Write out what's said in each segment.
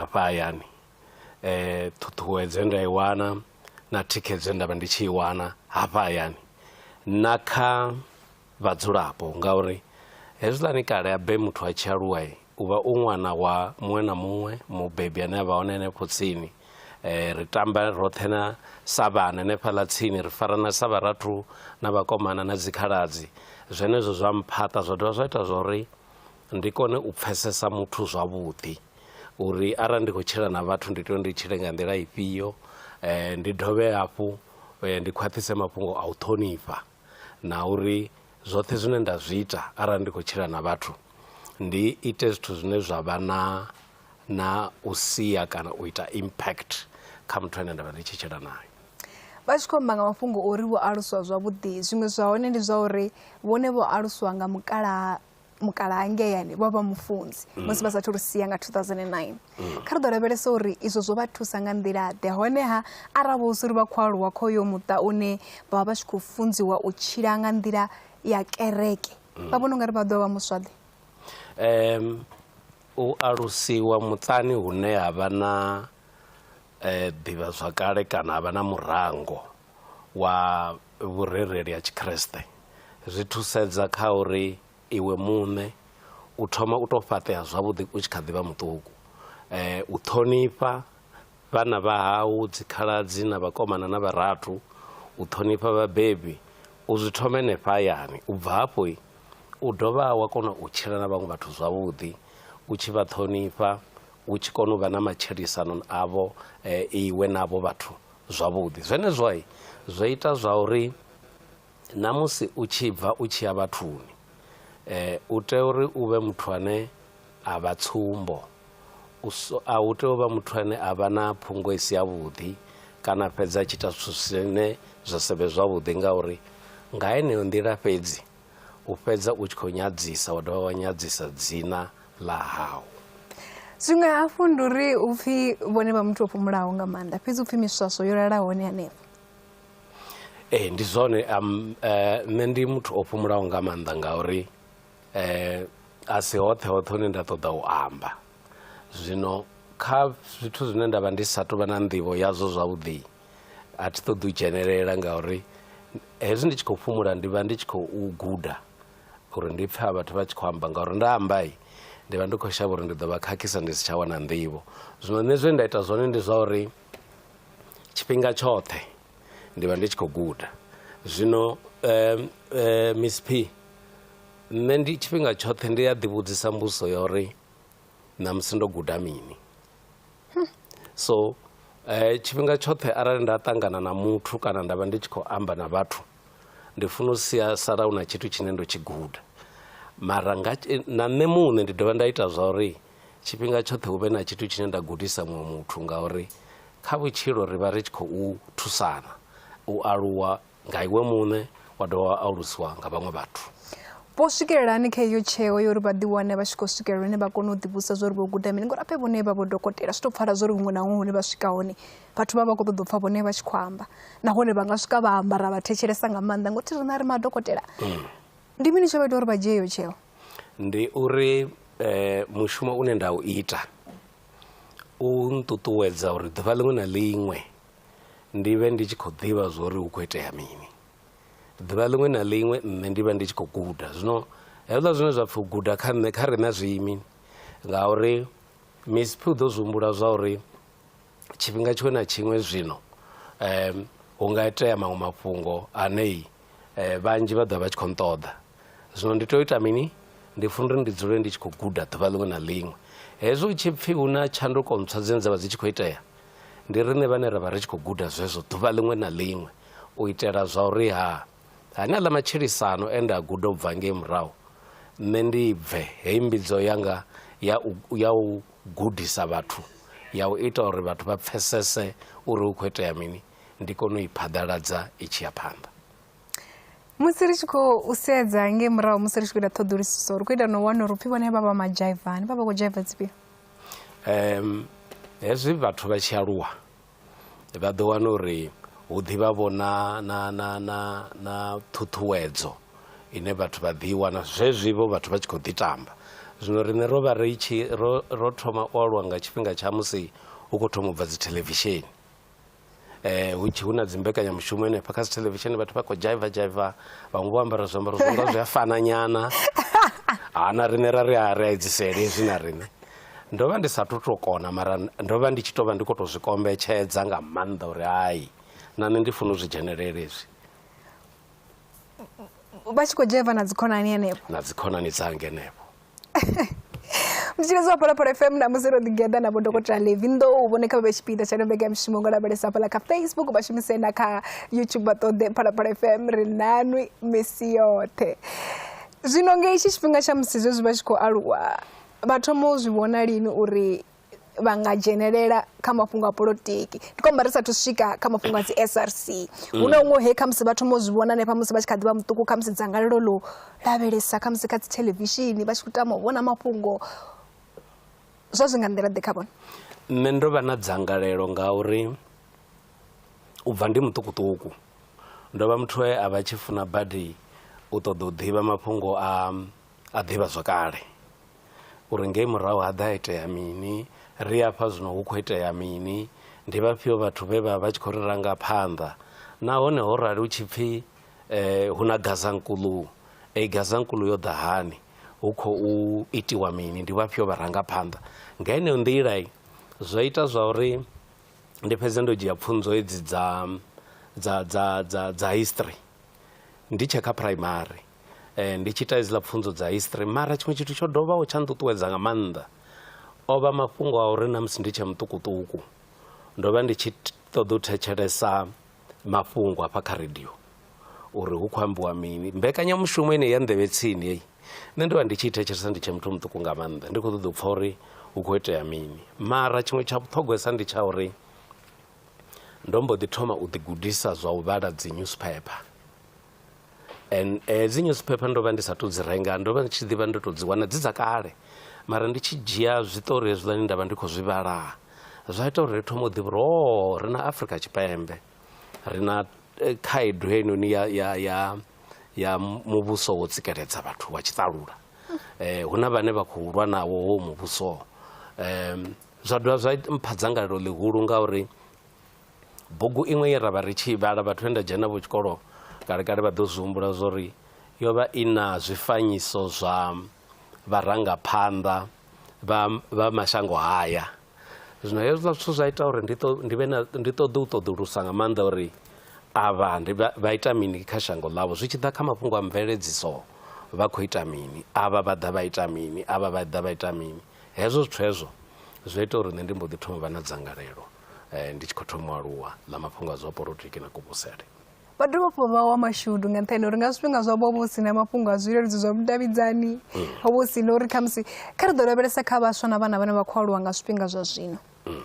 hafha hayani ṱhuṱhuwedzo ye nda i wana na thikhedzo ye nda vha ndi tshi i wana hafha hayani na kha vhadzulapo ngauri hezwiḽani kale ha be muthu a tshi aluwa u vha u ṅwana wa muṅwe na muṅwe mubebi ane a vha hone henefho tsini ri tamba roṱhe na sa vhana hanefhaḽa tsini ri farana sa vharathu na vhakomana na dzikhaladzi zwenezwo zwa mphaṱa zwa dovha zwa ita zwa uri ndi kone u pfesesa muthu zwavhuḓi uri arali ndi khou tshila na vhathu ndi tea uri ndi tshile nga nḓila ifhio ndi dovhe hafhu ndi khwaṱhise mafhungo a u ṱhonifha na uri zwoṱhe zwine nda zwi ita arali ndi khou tshila na vhathu ndi ite zwithu zwine zwa vha na na u sia kana u ita impact kha muthu ane nda vha ndi tshi tshila naye vha tshi khou amba nga mafhungo ori vho aluswa zwavhuḓi zwiṅwe zwa hone ndi zwa uri vhone vho aluswa nga mukalaha mukalaha ngeyani vha vha mufunzi mm. musi vha sathu ri sia nga 2009 mm. kha ri ḓo lavhelesa uri izwo zwo vha thusa nga nḓilaḓe honeha arali vho uri vha khou aluwa kho yo muṱa une vha vha vha tshi khou funziwa u tshila nga nḓila ya kereke mm. vha vhona ungari vha ḓo vha muswaḓe um u alusiwa muṱani hune ha vha na um ḓivhazwakale kana ha vha na murango wa vhurereli ha tshikriste zwi thusedza kha uri iwe muṋe u thoma u tou fhaṱea zwavhuḓi u tshi kha ḓi vha muṱuku um u ṱhonifha vhana vha hau dzikhaladzi na vhakomana na vharathu u ṱhonifha vhabebi u zwi thoma henefha hayani u bva hafho u dovha wa kona u tshila na vhaṅwe vhathu zwavhuḓi u tshi vha ṱhonifha u tshi kona u vha na matshilisano avho um iwe navho vhathu zwavhuḓi. Zwenezwo zwo ita zwa uri na musi u tshi bva u tshi ya vhathuni u tea uri u vhe muthu ane a vha tsumbo, a u tei u vha muthu ane a vha na phungo i si yavhuḓi kana a fhedza a tshi ita zwithu zwine zwa sa vhe zwavhuḓi ngauri nga heneyo nḓila fhedzi, u fhedza u tshi khou nyadzisa wa dovha wa nyadzisa dzina ḽa hau zwiṅwe hafhu ndi uri u pfhi vhone vha muthu o fhumulaho nga maanḓa fhedzi u pfhi miswaswo yo lala hone hanefho ee ndi zwone um, eh, nṋe ndi muthu o fhumulaho nga maanḓa ngauri um a si hoṱhe hoṱhe hune nda ṱoḓa u amba zwino kha zwithu zwine nda vha ndi sa tou vha na nḓivho yazwo zwavhuḓi a thi ṱoḓi u dzhenelela ngauri hezwi ndi tshi khou fhumula ndi vha ndi tshi khou guda uri ndi pfha vhathu vha tshi khou amba ngauri nda amba ndi vha ndi khou shavha uri ndi ḓo vha khakhisa ndi si tsha wana nḓivho zwino nṋe zwe nda ita zwone ndi zwa uri tshifhinga tshoṱhe ndi vha ndi tshi khou guda zwino um um miss p nṋe ndi tshifhinga tshoṱhe ndi a ḓivhudzisa mbuso ya uri ṋamusi ndo guda mini hmm. so eh, tshifhinga tshoṱhe arali nda ṱangana na muthu kana nda vha ndi tshi khou amba na vhathu ndi funa u sia sala u na tshithu tshine ndo tshi guda mara nga, na nṋe muṋe ndi dovha nda ita zwa uri tshifhinga tshoṱhe hu vhe na tshithu tshine nda gudisa muṅwe muthu ngauri kha vhutshilo ri vha ri tshi khou thusana u aluwa nga iwe muṋe wa dovha wa alusiwa nga vhaṅwe vhathu vho swikelela hani kha iyo tsheo yo uri vha ḓiwane vha tshi khou swikelela hune vha kone u ḓivhusa zwa uri vho guda mini ngori ape vhone vha vho dokotela zwi tou pfala zwa uri huṅwe na huṅwe hune vha swika hone vhathu vha vha khou ṱoḓa u pfha vhone vha tshi khou amba nahone vha nga swika vha amba ra vha thetshelesa nga maanḓa ngothi rina ri madokotela mm. ndi mini tsho vha ita uri vha dzhie iyo tsheo ndi uri um mushumo une nda u ita u nṱuṱuwedza uri ḓuvha ḽiṅwe na ḽiṅwe ndi vhe ndi tshi khou ḓivha zwa uri hu khou itea mini ḓuvha ḽiṅwe na ḽiṅwe nṋe ndi vha ndi tshi khou guda zwino hezwiḽa zwine zwa pfhi u guda kha nṋe kha riṋe zwi imi ngauri misiphi u ḓo zwi humbula zwa uri tshifhinga tshiṅwe na tshiṅwe zwino hu nga itea maṅwe mafhungo anei eh, vhanzhi vha ḓovha vha tshi khou nṱoḓa zwino ndi tea u ita mini ndi funa uri ndi dzule ndi tshi khou guda ḓuvha ḽiṅwe na ḽiṅwe hezwi hu tshi pfhi hu na tshanduko ntswa dzine dza vha dzi tshi khou itea ndi riṋe vhane ra vha ri tshi khou guda zwezwo ḓuvha ḽiṅwe na ḽiṅwe u itela zwa uri ha hane aḽa matshilisano e nda guda u bva ngei murahu nṋe ndi bve heyi mbidzo yanga ya u, ya u gudisa vhathu ya u ita uri vhathu vha pfesese uri hu khou itea mini ndi kone u i phaḓaladza i tshi ya phanḓa musi ri tshi khou sedza nge murahu musi ri tshi khou ita ṱhoḓulusiso ri khou ita no wana uri upfhi vhone vha vha majaivani vha vha khou jaiva dzifhio um hezwi vhathu vha tshi aluwa vha ḓo wana uri hu ḓivha vho na na na na na ṱhuṱhuwedzo ine vhathu vha ḓi wana zwezwi vho vhathu vha tshi khou ḓi tamba zwino riṋe ro vha ri tshi ro ro thoma u aluwa nga tshifhinga tsha musi hu khou thoma u bva dzi thelevishini eh hu tshi hu na dzimbekanyamushumo henefha kha dzithelevishini vhathu vha khou dzhaiva dzhaiva vhaṅwe vho ambara zwiambaro zwi nga zwi a fana nyana ha na riṋe ra ri a ri a edzisele hezwi na riṋe ndo vha ndi sa thu to kona mara ndo vha ndi tshi to vha ndi khou to zwi kombetshedza nga maanḓa uri hai na nṋe ndi funa u zwi dzhenelele hezwi vha tshi khou dzhaiva na dzikhonani henefho na dzikhonani dzange henefho muthetshelezi wa phalaphala fm na musi ro ḓigeḓa na vhodokotela levi ndo u vhone kha vhe tshipiḓa tsha nobega mishumo ngo lavhelesa fhala kha facebook vha shumise na kha youtube vha ṱoḓe phalaphala fm ri nanwi misi yoṱhe zwino ngei tshi tshifhinga tsha musi zwezwi vha tshi khou aluwa vha thoma u zwi vhona lini uri vha nga dzhenelela kha mafhungo a polotiki ndi khou amba ri sathu swika kha mafhungo a dzi src hu na huṅwe he khamusi vha thoma u zwi vhona hanefha musi vha tshi kha ḓi vha muṱuku khamusi dzangalelo ḽo lavhelesa khamusi kha dzi thelevishini vha tshi khou tama u vhona mafhungo zwa zwi nga nḓila ḓe kha vhona nṋe ndo vha na dzangalelo nga uri u bva ndi muṱukuṱuku ndo vha muthu e a vha tshi funa badi u ṱoḓa u ḓivha mafhungo a a ḓivha zwakale uri ngei murahu ha ḓa itea mini ri afha zwino hu khou itea mini ndi vhafhio vhathu vhe vha vha tshi khou ri ranga phanḓa nahone ho rali hu tshi pfhi eh, hu na gazankulu ei gazankulu yo ḓa hani hu khou itiwa mini ndi vhafhio vharangaphanḓa nga heneyo nḓila zwo ita zwa uri ndi fhedze ndo dzhia pfunzo hedzi dza dza dza dza dza history ndi tshe kha primary um ndi tshi ita hedziḽa pfunzo dza history mara tshiṅwe tshithu tsho dovhaho tsha nṱuṱuwedza nga maanḓa o vha mafhungo a uri na musi ndi tshe muṱukuṱuku ndo vha ndi tshi ṱoḓa u thetshelesa mafhungo hafha kha radio uri hu khou ambiwa mini mbekanyamushumo ine ya nḓevhe tsini heyi nṋe ndo vha ndi tshi thetshelesa ndi tshe muthu muṱuku nga maanḓa ndi khou ṱoḓa u pfha uri hu khou itea mini mara tshiṅwe tsha vhuṱhogwesa ndi tsha uri ndo mbo ḓi thoma u ḓigudisa zwa u vhala dzi newspaper and eh, dzi newspaper ndo vha ndi sa to dzi renga ndo vha ndi tshi ḓivha ndo to dzi wana dzi dza kale mara ndi tshi dzhia zwiṱori hezwiḽani nda vha ndi khou zwi vhala zwa ita uri ri thoma u ḓivha uri o oh, ri na afrika tshipembe ri na eh, khaedu heinoni ya, ya, ya, ya muvhuso wo tsikeledza vhathu wa tshiṱalula eh, hu na vhane vha khou lwa nawo wo muvhuso um, zwa dovha zwa mpha dzangalelo ḽihulu ngauri Bugu iṅwe ye ra vha ri tshi i vhala, vhathu vhe nda dzhena navho tshikolo kalekale vha ḓo zwi humbula zwa uri yo vha i na zwifanyiso zwa vharangaphanḓa vha vha mashango haya. Zwino hezwiḽa zwithu zwa ita uri ndi ṱo ndi vhe na ndi ṱoḓe u ṱoḓulusa nga maanḓa uri avha ndi vha vha ita mini kha shango ḽavho zwi tshi ḓa kha mafhungo a mveledziso vha khou ita mini, avha vha ḓa vha ita mini, avha vha ḓa vha ita mini. Hezwo zwithu hezwo zwo ita uri nṋe ndi mbo ḓi thoma u vha na dzangalelo. eh, ndi tshi khou thoma u aluwa na mafhungo a zwa polotiki na kuvhusele vha dovha hafhu vha wa mashudu nga nṱhani uri nga zwifhinga zwa vho si na mafhungo a zwileludzi zwa vhudavhidzani mm. ho vho si na uri khamusi kha ri ḓo lavhelesa kha vhaswa na vhana vhane vha khou aluwa nga zwifhinga zwa zwino mm.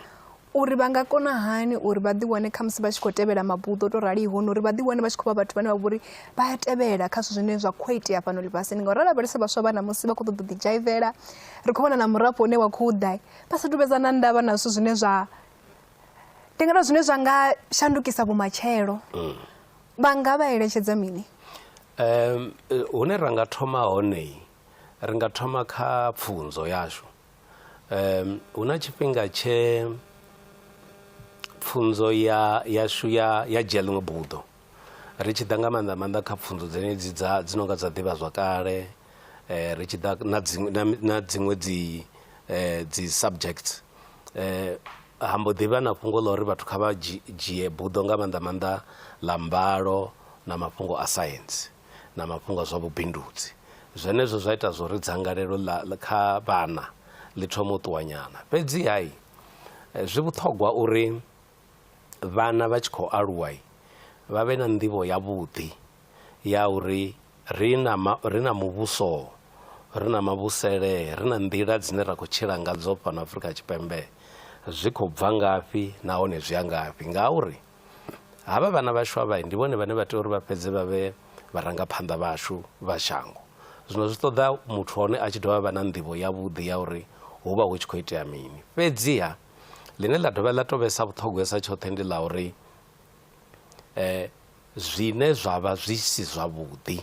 uri vha nga kona hani uri vha ḓiwane khamusi vha tshi khou tevhela mabuḓo to raliho na uri vha ḓiwane vha tshi khou vha vhathu vhane vha vhori vha a tevhela kha zwithu zwine zwa khou itea fhano ḽifhasini ngauri ra lavhelesa vhaswa vha ṋamusi vha khou ṱoḓa u ḓidzhaivela ri khou vhona na murafho une wa khou ḓa vha sa tuvhedza na ndavha na zwithu zwine zwa ndi nga zwine zwa nga shandukisa vhumatshelo mm. vha nga vha eletshedza mini um hune ra nga thoma hone ri nga thoma kha pfunzo yashu um hu na tshifhinga tshe pfunzo ya yashu ya ya dzhia ḽiṅwe buḓo ri tshi ḓa nga maanḓa maanḓa kha pfhunzo dzenedzi dza dzi nonga dza ḓivhazwakale ri tshi ḓa na dziṅwe na dziṅwe dzi dzi subject ha mbo ḓi vha na fhungo ḽa uri vhathu kha vha dzhie dzhie buḓo nga maanḓa maanḓa ḽa mbalo na mafhungo a saintsi na mafhungo a zwa vhubindudzi. Zwenezwo zwa ita zwa uri dzangalelo ḽa kha vhana ḽi thoma u ṱuwa nyana fhedzi ha zwi vhuṱhogwa uri vhana vha tshi khou aluwa vha vhe na nḓivho yavhuḓi ya uri ri na ri na muvhuso ri na mavhusele ri na nḓila dzine ra khou tshila nga dzo fhano Afrika Tshipembe zwi khou bva ngafhi nahone zwi a ngafhi ngauri havha vhana vhaswa vha ndi vhone vhane vha tea uri vha fhedze vha vhe vharangaphanḓa vhashu vha shango. Zwino zwi ṱoḓa muthu wa hone a tshi dovha a vha na nḓivho yavhuḓi ya uri hu vha hu tshi khou itea mini fhedziha. ḽine ḽa dovha ḽa to vhesa vhuṱhogwesa tshoṱhe ndi ḽa uri zwine zwavha zwi si zwavhuḓi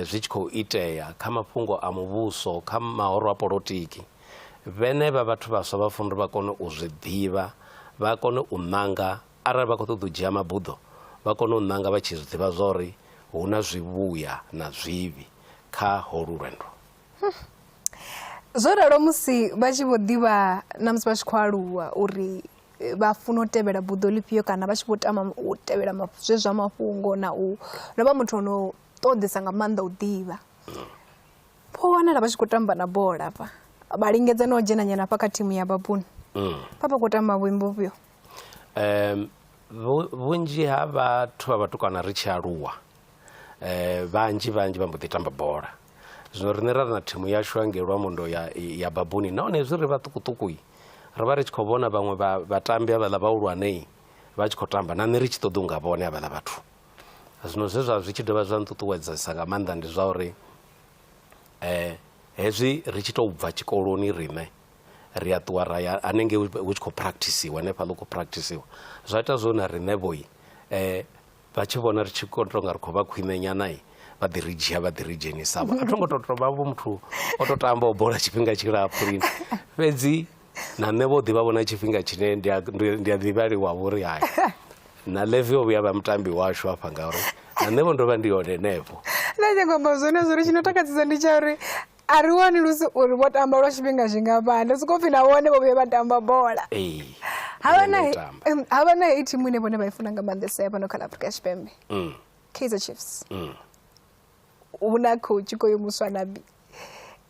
zwi tshi khou itea kha mafhungo a muvhuso kha mahoro a polotiki vhene vha vhathu vhaswa vha funa uri vha kone u zwi ḓivha vha kone u ṋanga arali vha kho ṱoḓa u dzhia mabuḓo vha kone u ṋanga vha tshi zwi ḓivha zwori hu na zwivhuya na zwivhi kha holu lwendo. zwo ralo musi vha tshi vho ḓivha na musi vha tshi khou aluwa uri eh, vha funa u tevhela buḓo ḽifhio kana vha tshi vho tama u tevhela zwe zwa mafhungo na u no vha muthu ono ṱoḓesa nga maanḓa u ḓivha pho wanala vha tshi khou tamba na bola fa vha lingedza no dzhena nyana fa kha thimu ya babuni mm. vha vha khou tamba vhuimbo vhufhio um vhunzhi ha vhathu vha vhatukana ri tshi aluwa vhanzhi vhanzhi vha mbo ḓi tamba bola zwino riṋe ra ri na thimu yashu hangei lwamondo ya ya babuni nahone hezwi ri vhaṱukuṱuku ri vha ri tshi khou vhona vhaṅwe vha vhatambi havhaḽa vhahulwane vha tshi khou tamba na nṋe ri tshi ṱoḓa unga vhone havhaḽa vhathu zwino zwe zwa zwi tshi dovha zwa nṱuṱuwedzesa nga maanḓa ndi zwa uri um hezwi ri tshi tou bva tshikoloni riṋe ri a ṱuwa ra ya hanengei hu tshi khou practisiwa hanefhaḽa hu khou practisiwa zwa ita zwo na riṋe vhoi um vha tshi vhona ri tshi kho tonga ri khou vha khwine nyana vha ḓi ri dzhia vha ḓi ri dzhenisa vho a thongo to to vha vho muthu o to tamba o bola tshifhinga tshilapfu lini fhedzi na nṋe vho ḓivha vhona tshifhinga tshine ndi a ndi a ḓivhaliwa vhori hai na levi o vhuya vha mutambi washu hafha ngauri na nṋe vho ndo vha ndi hone henefho na nyangombo zwenezwo ri tshi no takadzisa ndi tsha uri a ri wani lusi uri vho tamba lwa tshifhinga zwingafhani ndo sokou pfhi na vhone vho vhuye vha tamba bola ee havha na Vhone u tamba. em, havha na heyi thimu ine vhone vha i funa nga maanḓesa ya fhano kha ḽa afrika tshipembe Mm, kaizer chiefs mm. hu na coach ko yo muswa nabi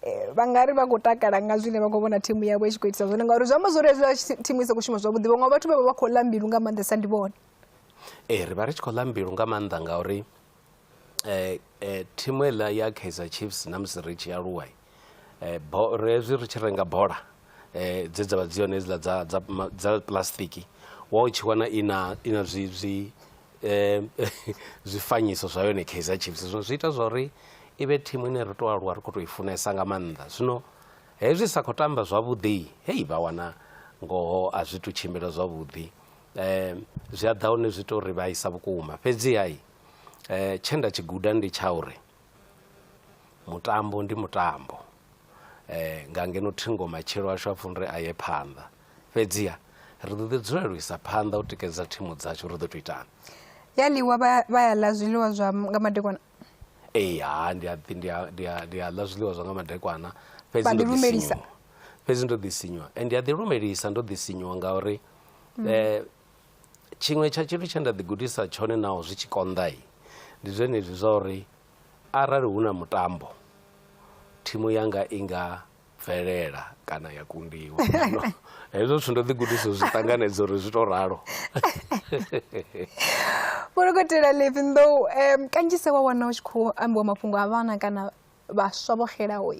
Eh, vha nga ri vha khou takala nga zwine vha khou vhona thimu yavho i tshi khou itisa zwone ngauri zwi amba zwori hezwiḽa tshi- thimu i sa khou shuma zwavhuḓi vhaṅwe vhathu vha vha vha khou ḽa mbilu nga maanḓesa ndi vhone ee ri vha ri tshi khou ḽa mbilu nga maanḓa ngauri thimu heiḽa ya Kaizer Chiefs na musi ri tshi aluwa hezwi ri tshi renga bola dze dza vha dzi hone hedziḽa dza dza dza plastic wa u tshi wana i na i na zwi zwi zwifanyiso zwa yone Kaizer Chiefs. Zwino zwi ita zwa uri i vhe thimu ine ri tou aluwa ri khou tou i funesa nga maanḓa zwino hezwi sa khou tamba zwavhuḓi heyi vha wana ngoho a zwi tu tshimbila zwavhuḓi um zwi a ḓa hone zwi tou ri vhaisa vhukuma fhedzi hai um tshe nda tshi guda ndi tsha uri mutambo ndi mutambo um nga ngeno thingo matshelo ashu a funi uri a ye phanḓa fhedziha ri ḓo ḓi dzula lu isa phanḓa u tikedza thimu dzashu ri ḓo to itana ya ḽiwa vha ya ḽa zwiḽiwa zwa nga madekwana Ee ha ndi a ḓi ndi a ndi a ndi a ḽa zwiḽiwa zwa nga madekwana fhedzi Vha ndo ḓi ḓi lumelisa. sinyuwa fhedzi ndo ḓi sinyuwa and ndi a ḓi lumelisa ndo ḓi sinyuwa ngauri eh, tshiṅwe tsha tshithu tshe nda ḓi gudisa tshone naho zwi tshi konḓai ndi zwenezwi zwa uri arali hu na mutambo thimu yanga i nga bvelela kana ya kundiwa hezwo zwithu ndo ḓi gudisa zwi ṱanganedza uri zwi to ralo vholokotela levi ndo um kanzhisa wa wana u tshi khou ambiwa mafhungo a vhana kana vhaswa vho xelaho wa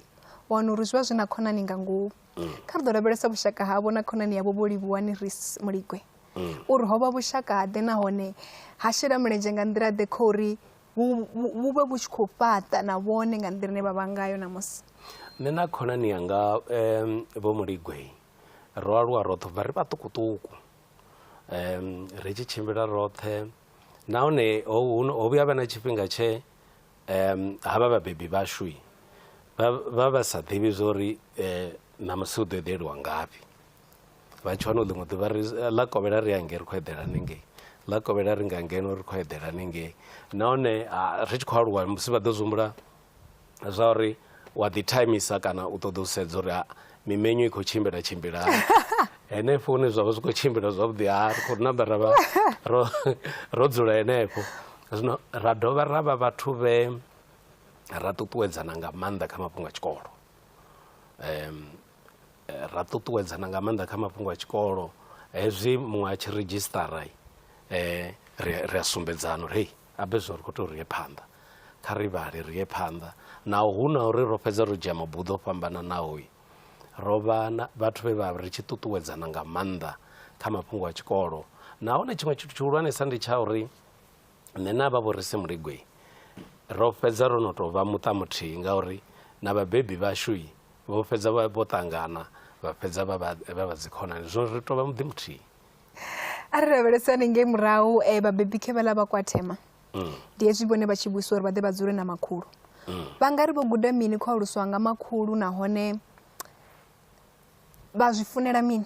wana uri zwi vha zwi na khonani nga ngomu mm. kha ri ḓo lavhelesa vhushaka havho na khonani yavho vho livhuwani ris muligwe mm. uri ho vha vhushaka ḓe nahone ha shela mulenzhe nga nḓila ḓe kho uri vhu vhe vhu tshi khou fhaṱa na vhone nga nḓila ine vha vha ngayo ṋamusi nṋe na khonani yanga um vho muligwei ro aluwa roṱhe bva ri vhaṱukuṱuku um ri tshi tshimbila roṱhe nahone ho vhuya vha na tshifhinga tshe um ha vha vhabebi vhashui vha vha sa ḓivhi zwa uri um ṋamusi hu ḓo eḓeliwa ngafhi vha tshi wana u ḽiṅwe ḓuvha ri ḽa kovhela ri angei ri khou eḓela hanengei ḽa kovhela ri nga ngeno ri khou eḓela hanengei nahone ri tshi khou aluwa musi vha ḓo zwihumbula zwa uri wa ḓi thaimisa kana u ṱoḓa u sedza uri mimenyo i khou tshimbila tshimbila hani henefho hune zwa vha zwi khou tshimbila zwavhuḓi ha ri khou namba ra vha ro ro dzula henefho zwino ra dovha ra vha vhathu vhe ra ṱuṱuwedzana nga maanḓa kha mafhungo a tshikolo um ra ṱuṱuwedzana nga maanḓa kha mafhungo a tshikolo hezwi muṅwe a tshi redzhisṱara ri ri a sumbedzana uri hei abe zwo ri khou tea uri ye phanḓa kha ri vhale ri ye phanḓa naho hu na uri ro fhedza ro dzhia mabuḓo o fhambananaho ro vha na vhathu vhe vha ri tshi ṱuṱuwedzana nga maanḓa kha mafhungo a tshikolo nahone tshiṅwe tshithu tshihulwanesa ndi tsha uri Nṋe na vha Vhorisi Muligwe ro fhedza ro no tou vha muṱa muthihi ngauri na vhabebi vhashu vho fhedza vho ṱangana vha fhedza vha vha dzikhonani zwino ri tou vha muḓi muthihi. A ri lavhelesani ngei murahu eh, vhabebi khe vhaḽa vha kwathema mm. ndi hezwi vhone vha tshi vhuiswa uri vha ḓe vha dzule na makhulu mm. vha nga ri vho guda mini khou aluswa nga makhulu nahone vha zwi funela mini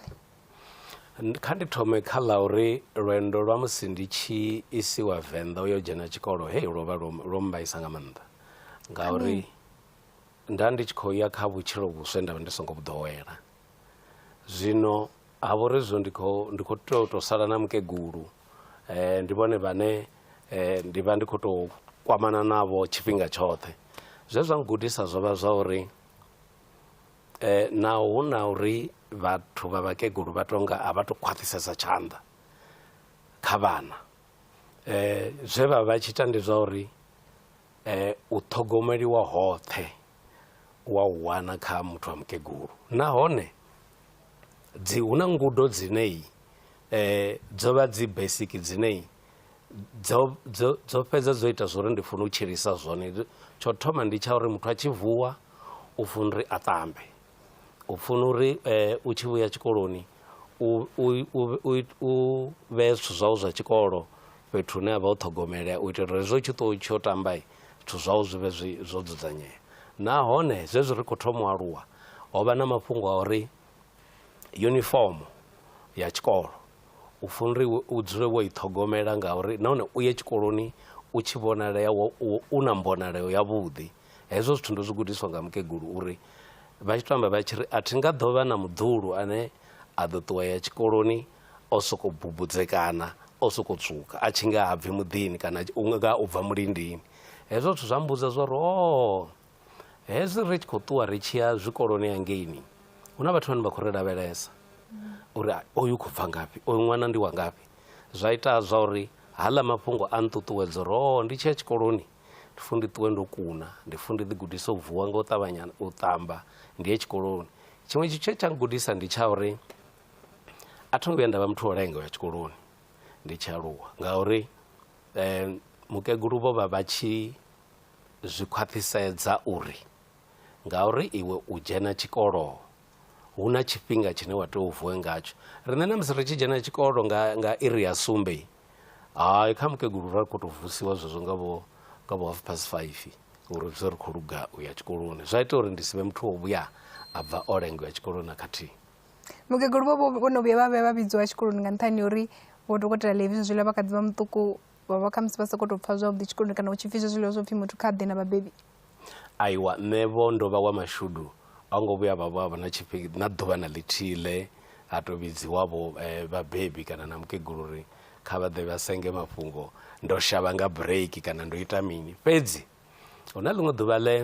kha ndi thome kha ḽa uri lwendo lwa musi ndi tshi isiwa venḓa u yo dzhena tshikolo hei lwo vha lwo mbaisa nga maanḓa ngauri nda ndi tshi khou ya kha vhutshilo vhuswa nda vha ndi songo vhuḓowela zwino ha vha uri zwo ndi khou ndi khou tea u tou sala na mukegulu um ndi vhone vhane um ndi vha ndi khou tou kwamana navho tshifhinga tshoṱhe zwe zwa ngudisa zwo vha zwa uri Eh, naho hu na uri vhathu vha vhakegulu vha tonga a vha to khwaṱhisesa tshanḓa kha vhana eh, zwe vha vha tshi ita ndi zwa uri eh, u ṱhogomeliwa hoṱhe wa u wana kha muthu wa mukegulu nahone dzi hu na ngudo dzinei eh, dzo vha dzi basic dzinei dzo dzo dzo fhedza dzo ita zwori ndi funa u tshilisa zwone tsho thoma ndi tsha uri muthu a tshi vuwa u funa uri a ṱambe u funa uri eh, u tshi vhuya tshikoloni u vhee zwithu zwau zwa tshikolo fhethu hune a vha u ṱhogomelea u itela uri zwo tshi ṱo tsho tamba zwithu zwau zwi vhe zwo dzudzanyea nahone zwezwi ri khou thoma u aluwa ho vha na mafhungo a uri yunifomo ya tshikolo u funa uri u dzule wo i ṱhogomela ngauri nahone u ye tshikoloni u tshi vhonalea wo u na mbonaleo yavhuḓi hezwo zwithu ndo zwi gudiswa nga mukegulu uri vha tshi to amba vha tshi ri a thi nga ḓo vha na muḓulu ane a ḓo ṱuwa ya tshikoloni o soko bubudzekana o soko tswuka a tshi nga ha bvi muḓini kana u nga u bva mulindini hezwo zwithu zwa mmbudza zwa uri o hezwi ri tshi khou ṱuwa ri tshi ya zwikoloni hangeini hu na vhathu vhane vha khou ri lavhelesa uri oyu khou bva ngafhi oyu ṅwana ndi wa ngafhi zwa ita zwa uri haḽa mafhungo a nṱuṱuwedzo uri o ndi tshi ya tshikoloni ndi funa ndi ṱuwe ndo kuna ndi funa ndi ḓigudise u vuwa nga u ṱavhanya u ṱamba ndi ye tshikoloni tshiṅwe tshithu tshe tsha ngudisa ndi tsha uri a tho ngo vhuya nda vha muthu o lenga u ya tshikoloni ndi tshi aluwa ngauri um mukegulu vho vha vha tshi Zwi khwaṱhisedza uri ngauri iwe u dzhena tshikolo hu na tshifhinga tshine wa tea u vuwe ngatsho. Riṋe na musi ri tshi dzhena tshikolo nga nga iri ya sumbe, hai kha mukegulu ra khou tou vusiwa zwezwo nga vho nga vho half past five uri ri vhe ri khou luga u ya tshikoloni. Zwa ita uri ndi si vhe muthu wa u vhuya a bva o lenga u ya tshikoloni na khathihi. Mukegulu vho vho vho no vhuya vha vhuya vha vhidziwa tshikoloni nga nṱhani ha uri Vho Dokotela Levi Nzwila vha kha ḓi vha muṱuku vhavha khamusi vha sokou tou pfha zwavhuḓi tshikoloni kana u tshi pfhi zwe zwiḽiwa zwo pfhi muthu kha ḓe na vhabebi aiwa nṋe vho ndo vha wa mashudu a ngo vhuya vha vha na tshifhinga na ḓuvha na ḽithihi ḽe ha tou vhidziwavho um eh, vhabebi kana na mukegulu uri kha vha ḓe vha senge mafhungo ndo shavha nga break kana ndo ita mini fhedzi hu na ḽiṅwe ḓuvha ḽe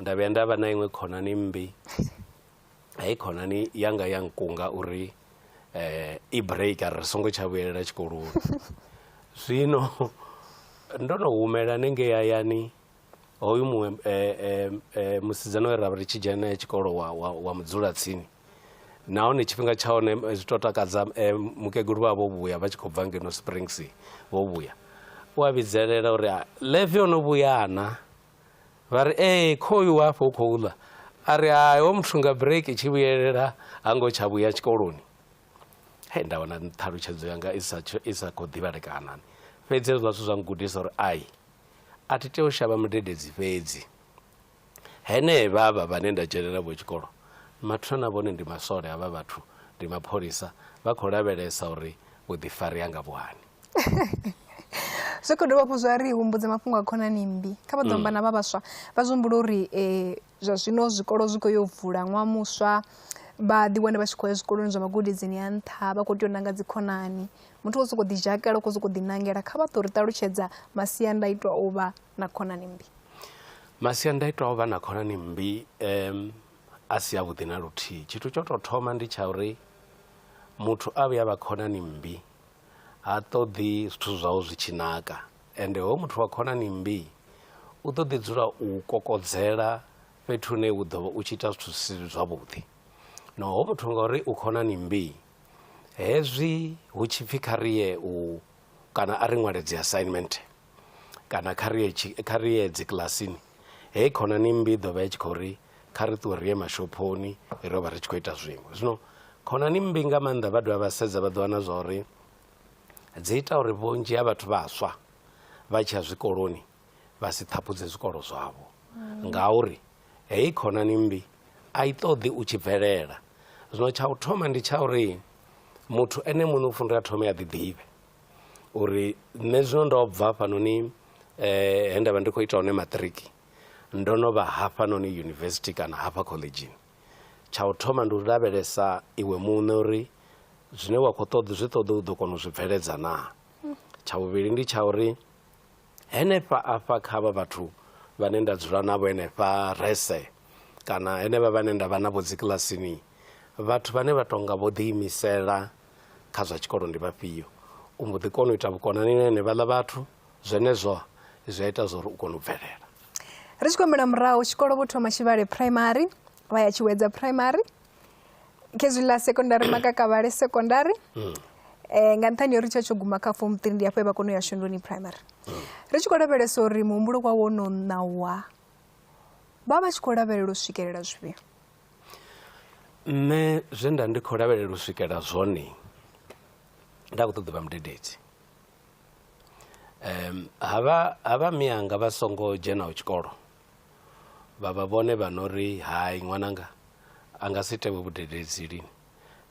nda vhuya nda vha na iṅwe khonani mmbi heyi khonani yanga ya nkunga uri eh, i break a ri songo tsha vhuyelela tshikoloni zwino ndo no humela nenge yayani hoyu muṅwe eh, eh, eh, musidzana we ra vha ri tshi dzhena naye tshikolo wa, wa, wa mudzula tsini nahone tshifhinga tsha hone eh, zwi to takadza eh, mukegulu vha vho vhuya vha tshi khou bva ngeno springs vho vhuya u a vhidzelela uri "Ah, leve o no vhuyana Vha ri, Ee, khoyu u afho u khou ḽa. A ri, Hai, hoyu muthu nga break i tshi vhuyelela ha ngo tsha vhuya tshikoloni. Hei, nda wana ṱhalutshedzo yanga i sa, i sa khou ḓivhalekana. Fhedzi hezwiḽa zwithu zwa ngudisa uri ai, a thi tei u shavha mudededzi fhedzi. Henevha vha vhane nda dzhenelela vho tshikolo, mathina na vhone ndi maswole, havha vhathu ndi mapholisa, vha khou lavhelesa uri vhuḓifari hanga vhu hani. zwi khou dovha hafhu zwa ri humbudza mafhungo a khonani mmbi kha vha ḓo amba na vha vhaswa vha zwi humbula uri um zwa zwino zwikolo zwi khou yo vula ṅwaha muswa vha ḓi wane vha tshi khou ya zwikoloni zwa magudedzini a nṱha vha khou tea u nanga dzi khonani muthu wo sokou ḓi dzhakela u khou sokou ḓi nangela kha vha ḓo ri ṱalutshedza masiandaitwa o vha na khonani mmbi masiandaitwa o vha na khonani mmbi um a si avhuḓi na luthihi tshithu tsho tou thoma ndi tsha uri muthu a vhuya vha khonani mmbi ha ṱoḓi zwithu zwau zwi tshi naka ende hoyu muthu wa khonani mmbi u ḓo ḓi dzula u kokodzela fhethu hune u ḓovha u tshi ita zwithu zwi si zwavhuḓi no hoyu muthu ngauri u khonani mmbi hezwi hu tshipfi kha riye u kana a ri ṅwale dzi assignment kana kha ri ye kha ri ye dzi kilasini heyi khonani mmbi i ḓo vha i tshi khou ri kha ri ṱuwe ri ye mashophoni ro vha ri tshi khou ita zwiṅwe zwino khonani mmbi nga maanḓa vha dovha vha sedza vha ḓo wana zwa uri dzi ita uri vhunzhi ha vhathu vhaswa vha tshiya zwikoloni vha si ṱhaphudze zwikolo zwavho ngauri heyi khonani mmbi a i ṱoḓi u tshi bvelela zwino tsha u thoma ndi tsha uri muthu ene muṋe u funela thome a ḓi ḓivhe uri nṋe zwino ndo bva hafhanoni he nda vha ndi khou ita hone maṱiriki ndo no vha hafhanoni yunivesithi kana hafha khoḽedzhini tsha u thoma ndi u lavhelesa iwe muṋe uri zwine wa khou ṱoḓa zwi ṱoḓa u ḓo kona u zwi bveledza naa tsha vhuvhili ndi tsha uri henefha afha kha vha vhathu vhane nda dzula navho henefha rese kana henevha vhane nda vha navho dzikilasini vhathu vhane vha tonga vho ḓiimisela kha zwa tshikolo ndi vhafhio u mbo ḓi kona u ita vhukonani na henevhaḽa vhathu zwenezwo zwi a ita zwa uri u kone u bvelela ri tshi khou humbela murahu tshikolo vho thoma tshivhale primary vha ya tshiwedza primary khezwi ḽa secondary makakavhale secondary mm. eh, nga nṱhani uri tsha tsho guma kha form three ndi afho e vha kona u ya shunduni primary mm. ri tshi khou lavhelesa uri muhumbulo wa wo no ṋawa vha vha tshi khou lavhelela u swikelela zwifhio Nṋe zwe nda ndi khou lavhelela u swikela zwone nda kho ṱoḓa u vha mudededzi, ha vha ha vha mianga vha songo dzhenaho tshikolo vha vha vhone vha no ri hai ṅwananga a nga si ite vho vhudededzi lini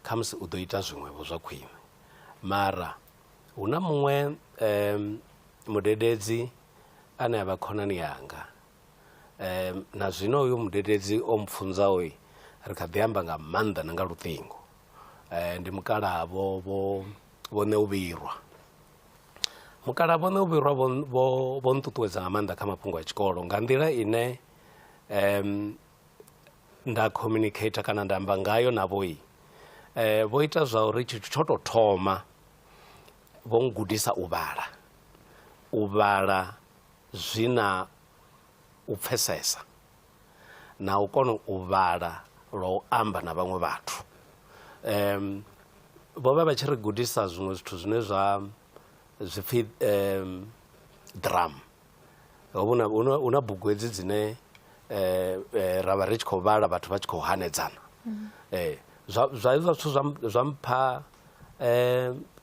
khamusi u ḓo ita zwiṅwevho zwa khwine, mara hu na muṅwe mudededzi ane avha khonani yanga Em, na zwino uyo mudededzi o mpfunzaho-i, ri kha ḓi amba nga maanḓa na nga luṱingo. Eh, ndi mukalaha vho vho vho Neuvhirwa. Mukalaha vho Neuvhirwa vho vho vho nṱuṱuwedza nga maanḓa kha mafhungo a tshikolo nga nḓila ine em nda communicator kana nda amba ngayo navho-i eh vho ita zwa uri tshithu tsho tou thoma vho ngudisa u vhala u vhala zwi na u pfesesa na u kona u vhala lwa u amba na vhaṅwe vhathu um vho vha vha tshi ri gudisa zwiṅwe zwithu zwine zwa zwipfi um drum hu na bugu hedzi dzine um ra vha ri tshi khou vhala vhathu vha tshi khou hanedzana um zwa hezwiḽa zwithu zwa mpha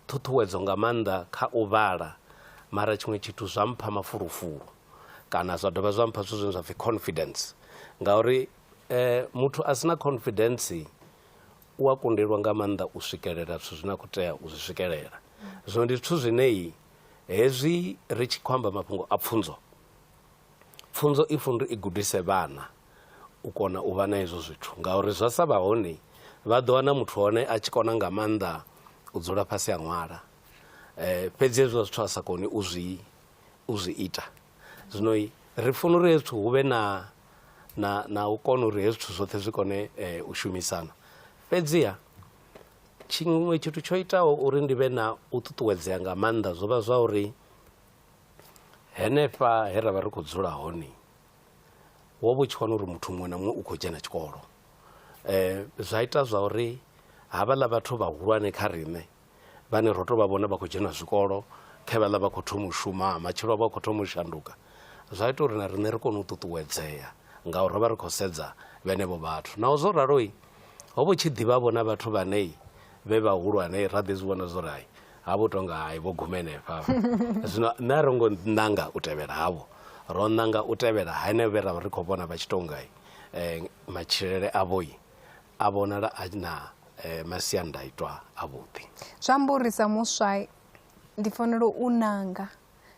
ṱhuṱhuwedzo nga maanḓa kha u vhala mara tshiṅwe tshithu zwa mpha mafulufulu kana zwa dovha zwa mpha zwithu zwine zwa pfhi confidence ngauri muthu a si na confidence u a kundelwa nga maanḓa u swikelela zwithu zwine a khou tea u zwi swikelela. Zwino ndi zwithu zwine hezwi ri tshi khou amba mafhungo a pfhunzo, pfhunzo i funa uri i gudise vhana u kona u vha na hezwo zwithu ngauri zwa sa vha hone vha ḓo wana muthu hone a tshi kona nga maanḓa u dzula fhasi ha ṅwala fhedzi hezwiḽa zwithu a sa koni u zwi u zwi ita zwino ri funa uri hezwi zwithu hu vhe na na na u kona uri hezwi zwithu zwoṱhe zwi kone u shumisana fhedziha tshiṅwe tshithu tsho itaho uri ndi vhe na u ṱuṱuwedzea nga maanḓa zwo vha zwa uri henefha he ra vha ri khou dzula hone wo vha u tshi wana uri muthu muṅwe na muṅwe u khou dzhena tshikolo um zwa ita zwa uri havhaḽa vhathu vhahulwane kha riṋe vhane ro tou vha vhona vha khou dzhena zwikolo khe vhaḽa vha khou thoma u shuma matshilo avho a khou thoma u shanduka zwa ita uri na riṋe ri kone u ṱuṱuwedzea ngauri ro vha ri khou sedza vhenevho vhathu naho zwo raloi ho vho tshi ḓivhavho na vhathu vhanei vhe vhahulwane ra ḓi zwi vhona zwo ri hai ha vho tonga hai vho guma henefha zwino nṋe a ro ngo ṋanga u tevhela havho ro ṋanga u tevhela henevho vhe ra vha ri khou vhona vha tshi tonga um matshilele avhoi a vhonala a na um masiandaitwa avhuḓi zwi amba uri sa muswa ndi fanela u ṋanga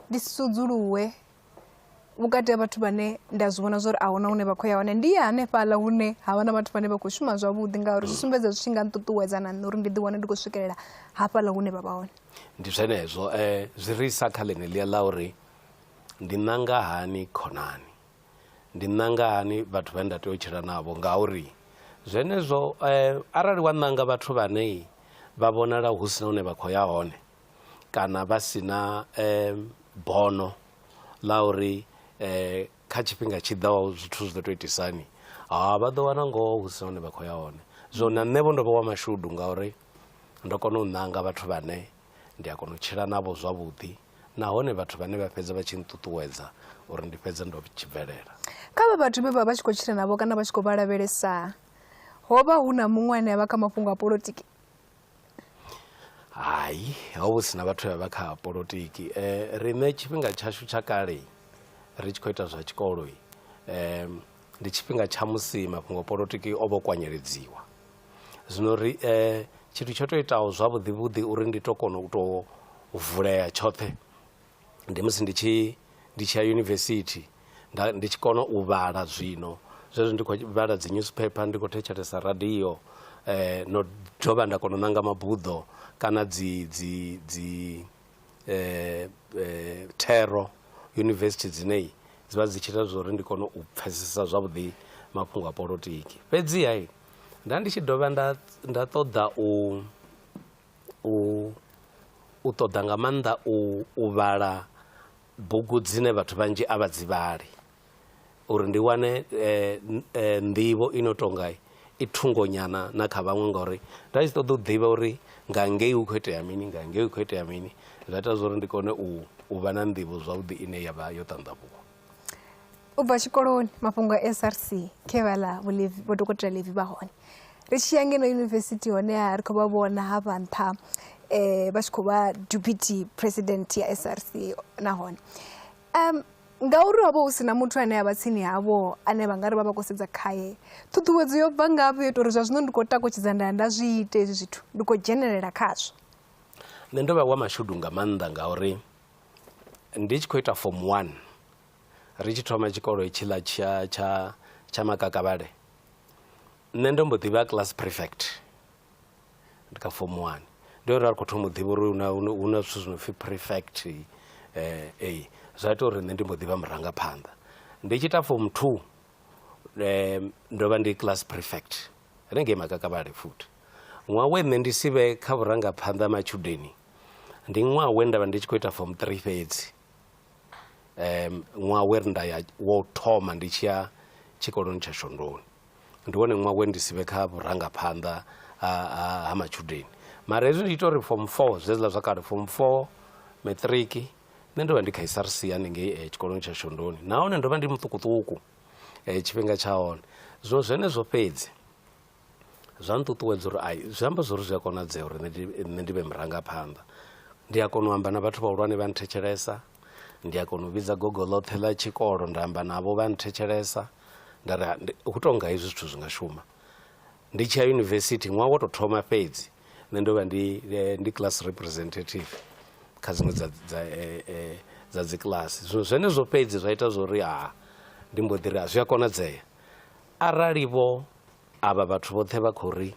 ndi si sudzuluwe vhukati ha vhathu vhane nda zwi vhona zwori ahuna hune vha khou ya hone ndi ya hanefhaḽa hune ha vha na vhathu vhane vha khou shuma zwavhuḓi ngauri zwi sumbedza zwi tshi nga nṱuṱuwedza na nṋe uri ndi ḓiwane ndi khou swikelela hafhaḽa hune vha vha hone ndi zwenezwo um zwi ri isa kha ḽeneḽia ḽa uri ndi ṋanga hani khonani ndi ṋanga hani vhathu vhane nda tea u tshila navho ngauri zwenezwo um arali wa ṋanga vhathu vhane vha vhonala hu si na hune vha khou ya hone kana vha si na bono ḽa uri kha tshifhinga tshi ḓaho zwithu zwi ḓo tou itisa hani, ha vha ḓo wana ngoho hu si na hune vha khou ya hone. Zwino na nṋe vho ndo vha wa mashudu ngauri ndo kona u ṋanga vhathu vhane ndi a kona u tshila navho zwavhuḓi nahone vhathu vhane vha fhedza vha tshi nṱuṱuwedza uri ndi fhedze ndo tshi bvelela. Kha avha vhathu vhe vha vha tshi khou tshila navho kana vha tshi khou vha lavhelesa ho vha hu na muṅwe ane a vha kha mafhungo a polotiki? Hai ho vha hu si na vhathu vhe vha vha kha polotiki riṋe tshifhinga tshashu tsha kale ri tshi khou ita zwa tshikolo ndi tshifhinga tsha musi mafhungo a polotiki o vha o kwanyeledziwa. Zwino ri tshithu tsho tou itaho zwavhuḓi vhuḓi uri ndi tou kona u tou vulea tshoṱhe ndi musi ndi tshi ndi tshi ya yunivesithi nda ndi tshi kona u vhala zwino zwezwo ndi khou vhala dzi newspaper ndi khou thetshelesa radio eh no dovha nda kona u ṋanga mabuḓo kana dzi dzi dzi eh thero yunivesithi dzine dzi vha dzi tshi ita zwa uri ndi kone u pfhesesa zwavhuḓi mafhungo a polotiki fhedziha nda ndi tshi dovha nda nda ṱoḓa u u u ṱoḓa nga maanḓa u u vhala bugu dzine vhathu vhanzhi a vha dzi vhali uri ndi wane nḓivho i no tonga i thungo nyana na kha vhaṅwe ngori nda tshi ṱoḓa u ḓivha uri nga ngei hu kho itea mini nga ngei hu kho itea mini zwa ita zwori ndi kone u vha na nḓivho zwavhuḓi ine yavha yo ṱandavhuwa. u bva tshikoloni mafhungo a src khe vha ḽa vho dokotela levi vha hone ri tshi ya ngeno yunivesithi honeha ri khou vha vhona ha vha nṱha um vha tshi khou vha deputy president ya src nahone um ngauri ho vha hu si na muthu ane a vha tsini havho ane vha nga ri vha vha khou sedza khaye ṱhuṱhuwedzo yo bva ngafhi yo ita uri zwa zwino ndi khou takutshedza nda nda zwi ite hezwi zwithu ndi khou dzhenelela khazwo nṋe ndo vha wa mashudu nga maanḓa ngauri Ndi tshi khou ita form one ri tshi thoma tshikolo hetshiḽa tsha tsha tsha makakavhale nṋe ndo mbo ḓivha class prefect ndi kha form one ndi hone ra ri khou thoma u ḓivha uri hu na hu na zwithu zwi no pfhi prefect ee zwa ita uri nṋe ndi mbo ḓivha murangaphanḓa ndi tshi ita form two ndo vha ndi class prefect hanengei makakavhale futhi ṅwaha we nṋe ndi si vhe kha vhurangaphanḓa ha matshudeni ndi ṅwaha we nda vha ndi tshi khou ita form three fhedzi um ṅwaha we ri nda ya wo thoma ndi tshi ya tshikoloni tsha shondoni ndi wone ṅwaha we ndi si vhe kha vhurangaphanḓa ha matshudeni mara hezwi ndi ita uri form four zweziḽa zwa kale form four maṱiriki nṋe ndo vha ndi kha isrc haningei eh, tshikoloni tsha shondoni nahone ndo vha ndi muṱukuṱuku eh, tshifhinga tsha hone zwo zwenezwo fhedzi zwa nṱuṱuwedza uri ai zwi amba zwori zwi a konadzea uri nṋe ndi vhe murangaphanḓa ndi a kona u amba na vhathu vhahulwane vha nthetshelesa ndi a kona u vhidza gogo ḽoṱhe ḽa tshikolo nda amba navho vha nthetshelesa nda ri hu tonga hezwi zwithu zwi nga shuma ndi tshi ya yunivesithi ṅwaha wo tou thoma fhedzi nṋe ndo vha ndi eh, ndi class representative kha dziṅwe dza dza eh, eh, dza dzikiḽasi zwino zwenezwo fhedzi zwa ita zwori ha ndi mbo ḓi ri a zwi a konadzea Arali vho avha vhathu vhoṱhe vha khou ri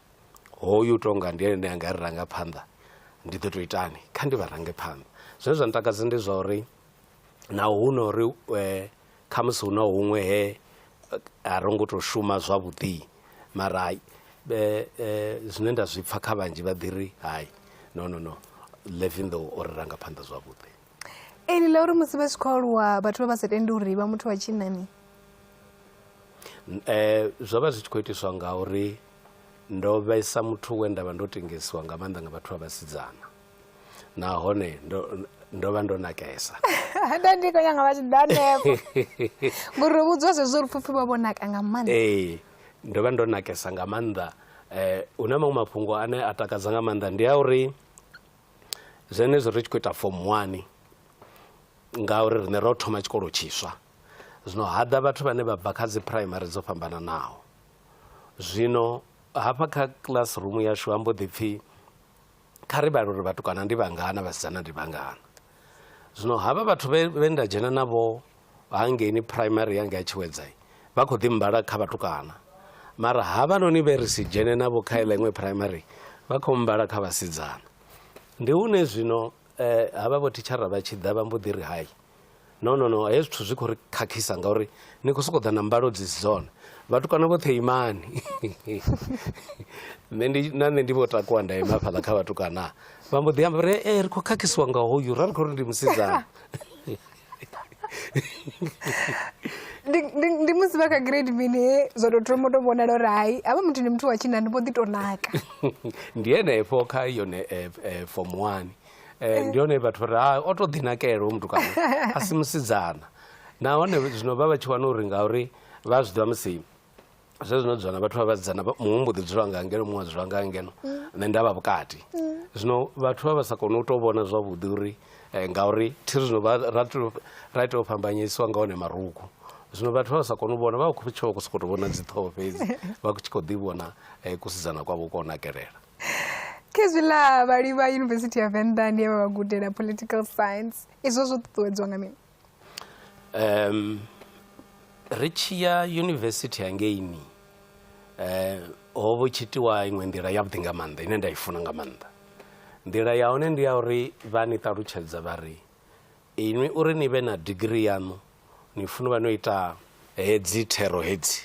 hoyu tonga ndi ene ane a nga ri ranga phanḓa ndi ḓo tou itani kha ndi vha range phanḓa. Zwine zwa ntakadza ndi zwa uri naho hu no ri khamusi hu na huṅwe he a ro ngo tou shuma zwavhuḓi mara hai zwine nda zwi pfha kha vhanzhi vha ḓi ri hai no no no Levin though o ri ranga phanḓa zwavhuḓi. ee lila uri musi vha tshi khou aluwa vhathu vha vha sa tendi uri vha muthu wa tshinnani um zwo vha zwi tshi khou itiswa nga uri ndo vhesa muthu we nda vha ndo tengesiwa nga maanḓa nga vhathu vha vhasidzana nahone ndo ndo vha ndo nakesa nda ndi khou nyanga vha tshi ḓa nepo ngori ro vhudziwa zwezwo uri pfupfi vha vho naka nga maanḓa ee ndo vha ndo nakesa nga maanḓa um hu na maṅwe mafhungo ane a takadza nga maanḓa ndi a uri zwenezwo ri tshi khou ita fomu wani ngauri riṋe ro thoma tshikolo tshiswa zwino ha ḓa vhathu vhane vha bva kha dzi phuraimari dzo fhambananaho zwino hafha kha classroom yashu ha mbo ḓi pfhi kha ri vhale uri vhatukana ndi vhangana vhasidzana ndi vhangana zwino havha vhathu vhe nda dzhena navho Hangeini Phuraimari ya ngei Tshiwedzai vha khou ḓi mbala kha vhatukana mara havhanoni vhe ri si dzhene navho kha iḽa iṅwe Phuraimari vha khou mbala kha vhasidzana. Ndi hune zwino eh, havha vho thitshara vha tshi ḓa vha mbo ḓi ri hai no no no hezwi zwithu zwi khou ri khakhisa ngauri ni khou sokou ḓa na mbalo dzi si dzone vhatukana vhoṱhe imani nṋe ndi na nṋe ndi vho takuwa nda ima fhaḽa kha vhatukana vha mbo ḓi amba ri e ri khou khakhisiwa nga hoyu ra ri khou ri ndi musidzana ndi ndi- ndi musi vha kha grade mini zwa tou thoma u tou vhonala uri hai havha muthu ndi muthu wa tshinna ndi mbo ḓi tou naka ndi henefho kha yone eh, eh, form one Eh, ndi hone vhathu ri ha o to ḓinakela hoyu mutukana a si musidzana nahone zwino vha vha tshi wana uri ngauri vha zwi ḓivha musi zwezwi no dzula na vhathu vha vhasidzana muṅwe mbo ḓi dzula nga ngeno muṅwe a dzula nga ngeno nṋe nda vha vhukati zwino vhathu vha vha sa koni u tou vhona zwavhuḓi uri eh, ngauri thi zwino vha ra tou- ra tea u fhambanyisiwa nga hone marugu zwino vhathu vha vha sa koni u vhona vha khou tshi vha khou sokou tou vhona dziṱhoho fhedzi vha tshi khou ḓi vhona eh, kusidzana kwavho kwa u nakelela khezwiḽa vhali vha yunivesithi ya venḓa ndi ye vha vha gudela political science izwo zwo ṱuṱuwedzwa nga mini um ri tshi ya yunivesithi hangeini um ho vho tshi itiwa iṅwe nḓila yavhuḓi nga maanḓa ine nda i funa nga maanḓa nḓila ya hone ndi ya uri vha ni ṱalutshedza vha ri inwi uri ni vhe na digiri yaṋu ni funa vha no ita hedzi thero hedzi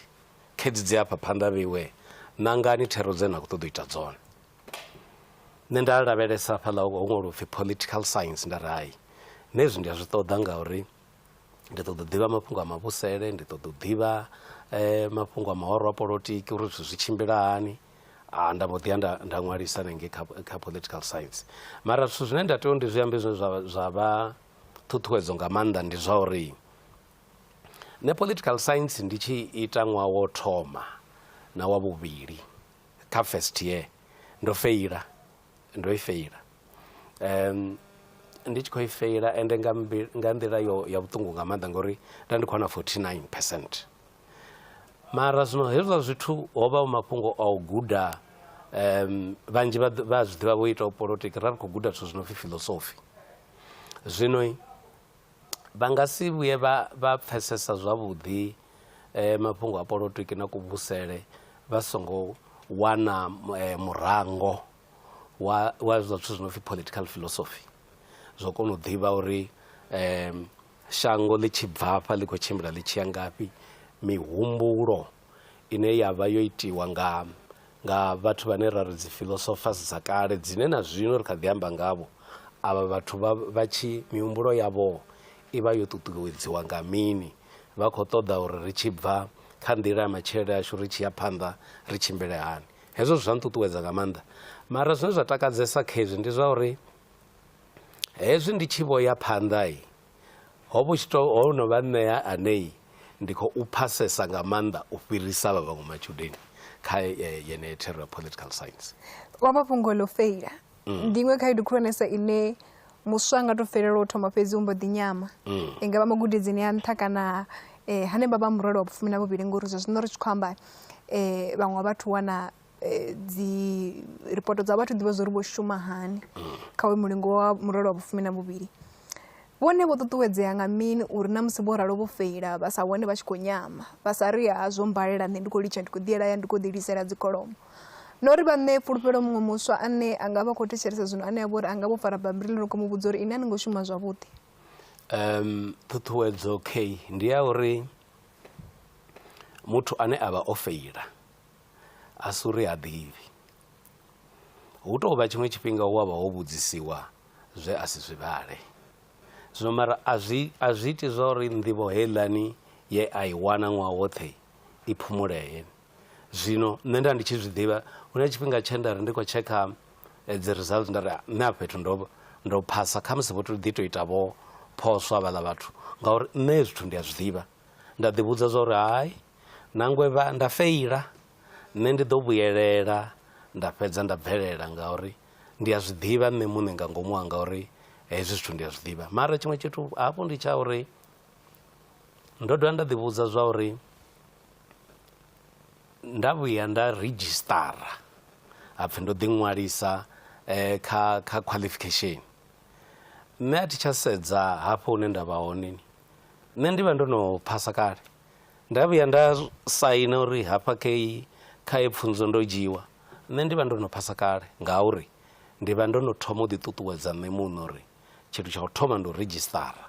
khedzi dzi hafha phanḓa vheiwe nangani thero dze na khou ṱoḓa u ita dzone nṋe nda lavhelesa hafhaḽa ho ṅwaliwa upfhi political science nda ri hai nṋe hezwi ndi a zwi ṱoḓa ngauri ndi ṱoḓa u ḓivha mafhungo a mavhusele ndi ṱoḓa u ḓivha mafhungo a mahoro a polotiki uri zwithu zwi tshimbila hani nda mbo ḓi ya nda nda ṅwalisa hanengei kha kha political science mara zwithu zwine nda tea uri ndi zwi ambe zwine zwa zwa vha ṱhuṱhuwedzo nga maanḓa ndi zwa uri nṋe political science ndi tshi ita ṅwaha wo thoma na wa vhuvhili kha first year ndo feila ndo i feila um ndi tshi khou i feila ende nga nga nḓila yo ya vhuṱungu nga maanḓa ngori nda ndi khou wana 49 percent mara zwino hezwiḽa zwithu ho vha hu mafhungo a u guda um vhanzhi vha zwi ḓivha vho itaho polotiki ra ri khou guda zwithu zwi no pfhi philosophy zwino vha nga si vhuye vha vha pfesesa zwavhuḓi mafhungo a polotiki na kuvhusele vha songo wana murango wa wa zwa zwithu zwi no pfhi political philosophy zwo kona u ḓivha uri shango ḽi tshi bvafha ḽi kho tshimbila ḽi tshiya ngafhi mihumbulo ine ya vha yo itiwa nga nga vhathu vhane ra ri dzi philosophers dza kale dzine na zwino ri kha ḓi amba ngavho avha vhathu vha vha tshi mihumbulo yavho i vha yo ṱuṱuwedziwa nga mini vha khou ṱoḓa uri ri tshi bva kha nḓila ya matshilele ashu ri tshi ya phanḓa ri tshimbile hani hezwo zwa nṱuṱuwedza nga maanḓa mara zwine zwa takadzesa kha hezwi ndi zwa uri hezwi ndi tshi vho ya phanḓa Ho vhu tshi tou, ho no vha nṋe ane ndi khou pfasesa nga maanḓa u fhirisa vha vhaṅwe matshudeni kha yeneyo thero ya political science. O amba fhungo ḽo feila. Ndi iṅwe khaedu khulwanesa ine muswa a nga tou fhelelwa u thoma fhedzi u mbo ḓi nyama. I nga vha magudedzini a nṱha kana hanevha vha murole wa vhufumi na vhuvhili ngori zwa zwino ri tshi khou amba vhaṅwe vha vhathu wana eh, dzi ripoto dza vhathu ḓivha zwa uri vho shuma hani kha uyu mulingo wa murole wa vhufumi na vhuvhili vhone vho ṱuṱuwedzea nga mini uri na musi vho ralo vho feila vha sa wane vha tshi khou nyama vha sa ri ha zwo mbalela nṋe ndi khou litsha ndi khou ḓiela ya ndi khou ḓilisela dzikholomo na uri vha ṋee fhulufhelo muṅwe muswa ane a nga vha khou thetshelesa zwino ane a vha uri a nga vho fara bammbiri ḽi no khou mu vhudza uri ine a ni ngo shuma zwavhuḓi um ṱhuṱhuwedzo k ndi ya uri muthu ane a vha o feila a si uri ha ḓivhi. Hu tou vha tshiṅwe tshifhinga u wa vha wo vhudzisiwa zwe a si zwi vhale. Zwino mara a zwi a zwi iti zwa uri nḓivho heiḽani ye a i wana ṅwaha woṱhe i phumulee. Zwino nṋe nda ndi tshi zwi ḓivha hu na tshifhinga tshe nda ri ndi khou tshekha dzi results nda ri nṋe a fhethu ndo ndo phasa khamusi vho to ḓi to ita vho phoswa vhaḽa vhathu ngauri nṋe zwithu ndi a zwi ḓivha nda ḓivhudza zwa uri hai Nangwe vha nda feila, nṋe ndi ḓo vhuyelela nda fhedza nda bvelela ngauri ndi a zwi ḓivha nṋe muṋe nga ngomu hanga uri hezwi zwithu ndi a zwi ḓivha. Mara tshiṅwe tshithu hafhu ndi tsha uri ndo dovha nda ḓivhudza zwa uri nda vhuya nda ridzhisṱara ha pfhi ndo ḓiṅwalisa kha kha qualification nṋe a thi tsha sedza hafho hune nda vha hone nṋe ndi vha ndo no phasa kale. Nda vhuya nda saina uri hafha key kha heyi pfunzo ndo dzhiiwa, nṋe ndi vha ndo no phasa kale ngauri ndi vha ndo no thoma u ḓiṱuṱuwedza nṋe muṋe uri tshithu tsha u thoma ndi u ridzhisṱara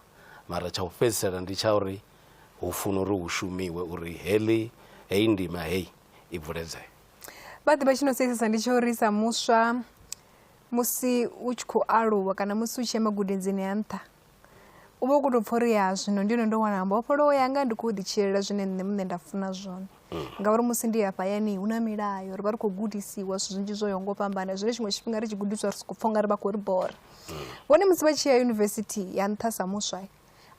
mara tsha u fhedzisela ndi tsha uri hu funa uri hu shumiwe uri heḽi heyi ndima heyi i bvuledzeya. Vha ḓivha tshi no seisesa ndi tsha uri sa muswa musi u tshi khou aluwa kana musi u tshi ya magudedzini a nṱha U vha u khou tou pfha uri ya zwino ndi hone ndo wana mbofholowo yanga ndi khou ḓitshilela zwine nṋe muṋe nda funa zwone mm. ngauri musi ndi hafha yani hu na milayo ri vha ri khou gudisiwa zwithu zwinzhi zwo yaho ngo fhambana zwine tshiṅwe tshifhinga ri tshi gudiswa ri sokou pfha unga ri vha khou ri bora mm. vhone musi vha tshi ya yunivesithi ya nṱha sa muswa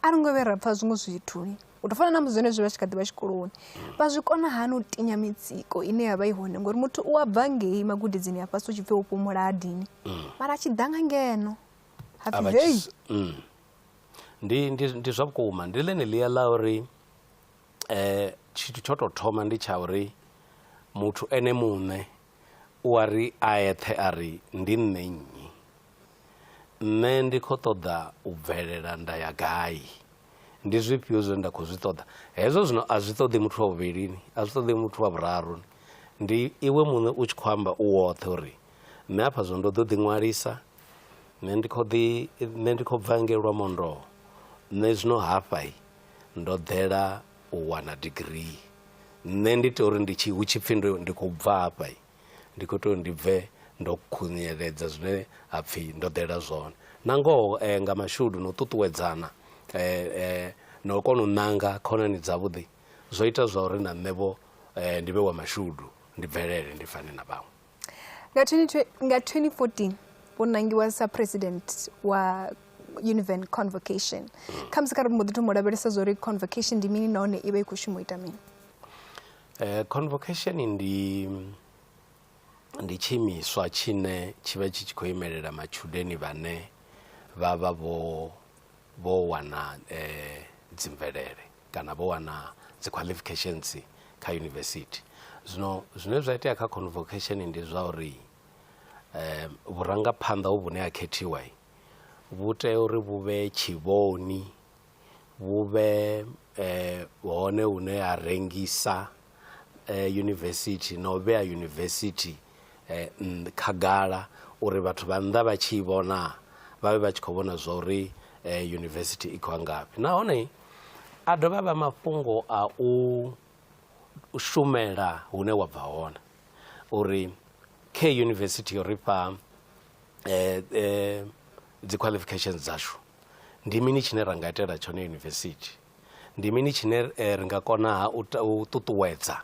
a ri ngo vhe ra pfha zwiṅwe zwithu u tou fana na musi zwenezwi vha tshi kha ḓi vha tshikoloni mm. vha zwi kona hani u tinya mitsiko ine ya vha i hone ngori muthu u a bva ngei magudedzini a fhasi u tshi pfhe u fhumula adini mara a tshi ḓa nga ngeno a vha tshi s- mm. ndi, ndi, ndi zwa vhukuma ndi ḽeneḽia ḽa uri eh, tshithu tsho tou thoma ndi tsha uri muthu ene muṋe u a ri a eṱhe a ri ndi nṋe nnyi nṋe ndi khou ṱoḓa u bvelela nda ya gai ndi zwifhio zwine nda khou zwi ṱoḓa hezwo zwino a zwi ṱoḓi muthu wa vhuvhilini a zwi ṱoḓi muthu wa vhuraru ndi iwe muṋe u tshi khou amba u woṱhe uri nṋe afha zwino ndo ḓo ḓiṅwalisa nṋe ndi kho ḓi nṋe ndi khou bva ngei lwamondoho nṋe zwino hafha ndo ḓela u wana digirii nṋe ndi tea uri ndi tshi hu tshipfhi ndo ndi khou bva hafha ndi kho tea uri ndi bve ndo khunyeledza zwine ha pfhi ndo ḓela zwone na ngoho nga mashudu na u ṱuṱuwedzana na u kona u ṋanga khonani dzavhuḓi zwo ita zwa uri na nṋe vho ndi vhe wa mashudu ndi bvelele ndi fane na vhaṅwe. Nga 2014 vho nangiwa sa president wa Univen Convocation. Hmm. Kha musi kha ri mbo ḓi thoma u lavhelesa zwa uri convocation ndi mini nahone i vha i khou shuma u ita mini? Eh, convocation ndi ndi tshiimiswa tshine tshi vha tshi tshi khou imelela matshudeni vhane vha vha vho vho wana eh, dzimvelele kana vho wana dzi qualifications kha yunivesithi zwino zwine zwa itea kha convocation ndi zwa uri um vhurangaphanḓa hu vhune ha khethiwa vhu tea uri vhu vhe tshivhoni vhu vhe um hone hune ha rengisa eh, yunivesithi na u vhea yunivesithi eh, khagala uri vhathu vha nnḓa vha tshi i vhona vha vhe vha tshi khou vhona zwa uri eh, yunivesithi i khou ngafhi nahone a dovha vha mafhungo a u shumela hune wa bva hone uri khe yunivesithi yo ri fha eh, eh, dzi qualifications dzashu ndi mini tshine ra nga itela tshone yunivesithi Ndi mini tshine ri nga kona-ha u ṱuṱuwedza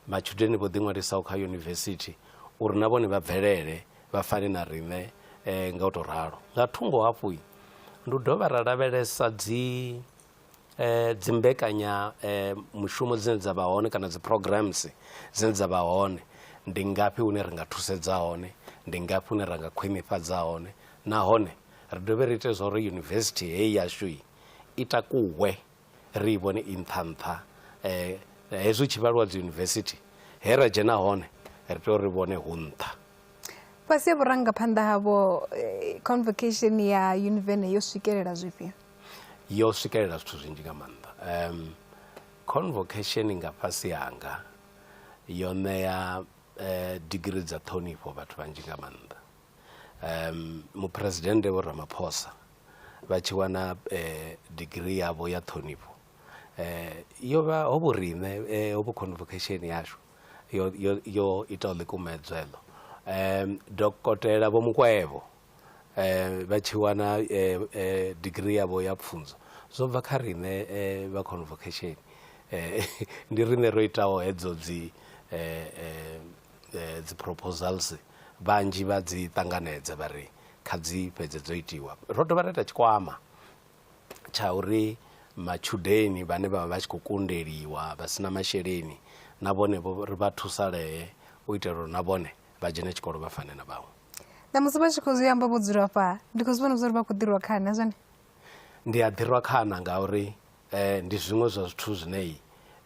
matshudeni vho ḓiṅwalisaho kha yunivesithi uri na vhone vha bvelele vha fane na riṋe nga u tou ralo? Nga thungo hafhu, ndi u dovha ra lavhelesa dzi dzi mbekanyamushumo dzine dza vha hone kana dzi programs dzine dza vha hone. Ndi ngafhi hune ri nga thusedza hone? Ndi ngafhi hune ra nga khwinifhadza hone? Nahone ri dovhe ri ite zwa uri yunivesithi heyi yashu. i takuwe ri i vhone i nṱha nṱha hezwi hu tshi vhaliwa dzi yunivesithi he ra dzhena hone ri tea uri vhone hu nṱha fhasi ha vhurangaphanḓa havho convocation ya univene yo swikelela zwifhio yo swikelela zwithu zwinzhi nga maanḓa um convocation nga fhasi hanga yo ṋea eh, digiri dza ṱhonifho vhathu vhanzhi nga maanḓa um muphuresidennde vho ramaphosa vha tshi wana digirii yavho ya ṱhonifho yo vha ho vho riṋe ho vho convocation yashu yo yo yo itaho ḽikumedzwa heḽo. Dokotela Vho Mukwevho vha tshi wana digirii yavho ya pfhunzo zwo bva kha riṋe vha convocation ndi riṋe ro itaho hedzo dzi dzi proposals. Vhanzhi vha dzi ṱanganedza vha ri kha dzi fhedze dzo itiwa. Ro dovha ra ita tshikwama tsha uri matshudeni vhane vha vha vha tshi khou kundeliwa vha si na masheleni na vhone vho ri vha thusalee u itela uri na vhone vha dzhene tshikolo vha fane na vhaṅwe. Ṋamusi vha tshi khou zwi amba vho dzula fha ndi khou zwi vhona zwa uri vha khou ḓirwa khana zwone? Ndi a ḓirwa khana ngauri eh, ndi zwiṅwe zwa zwithu zwine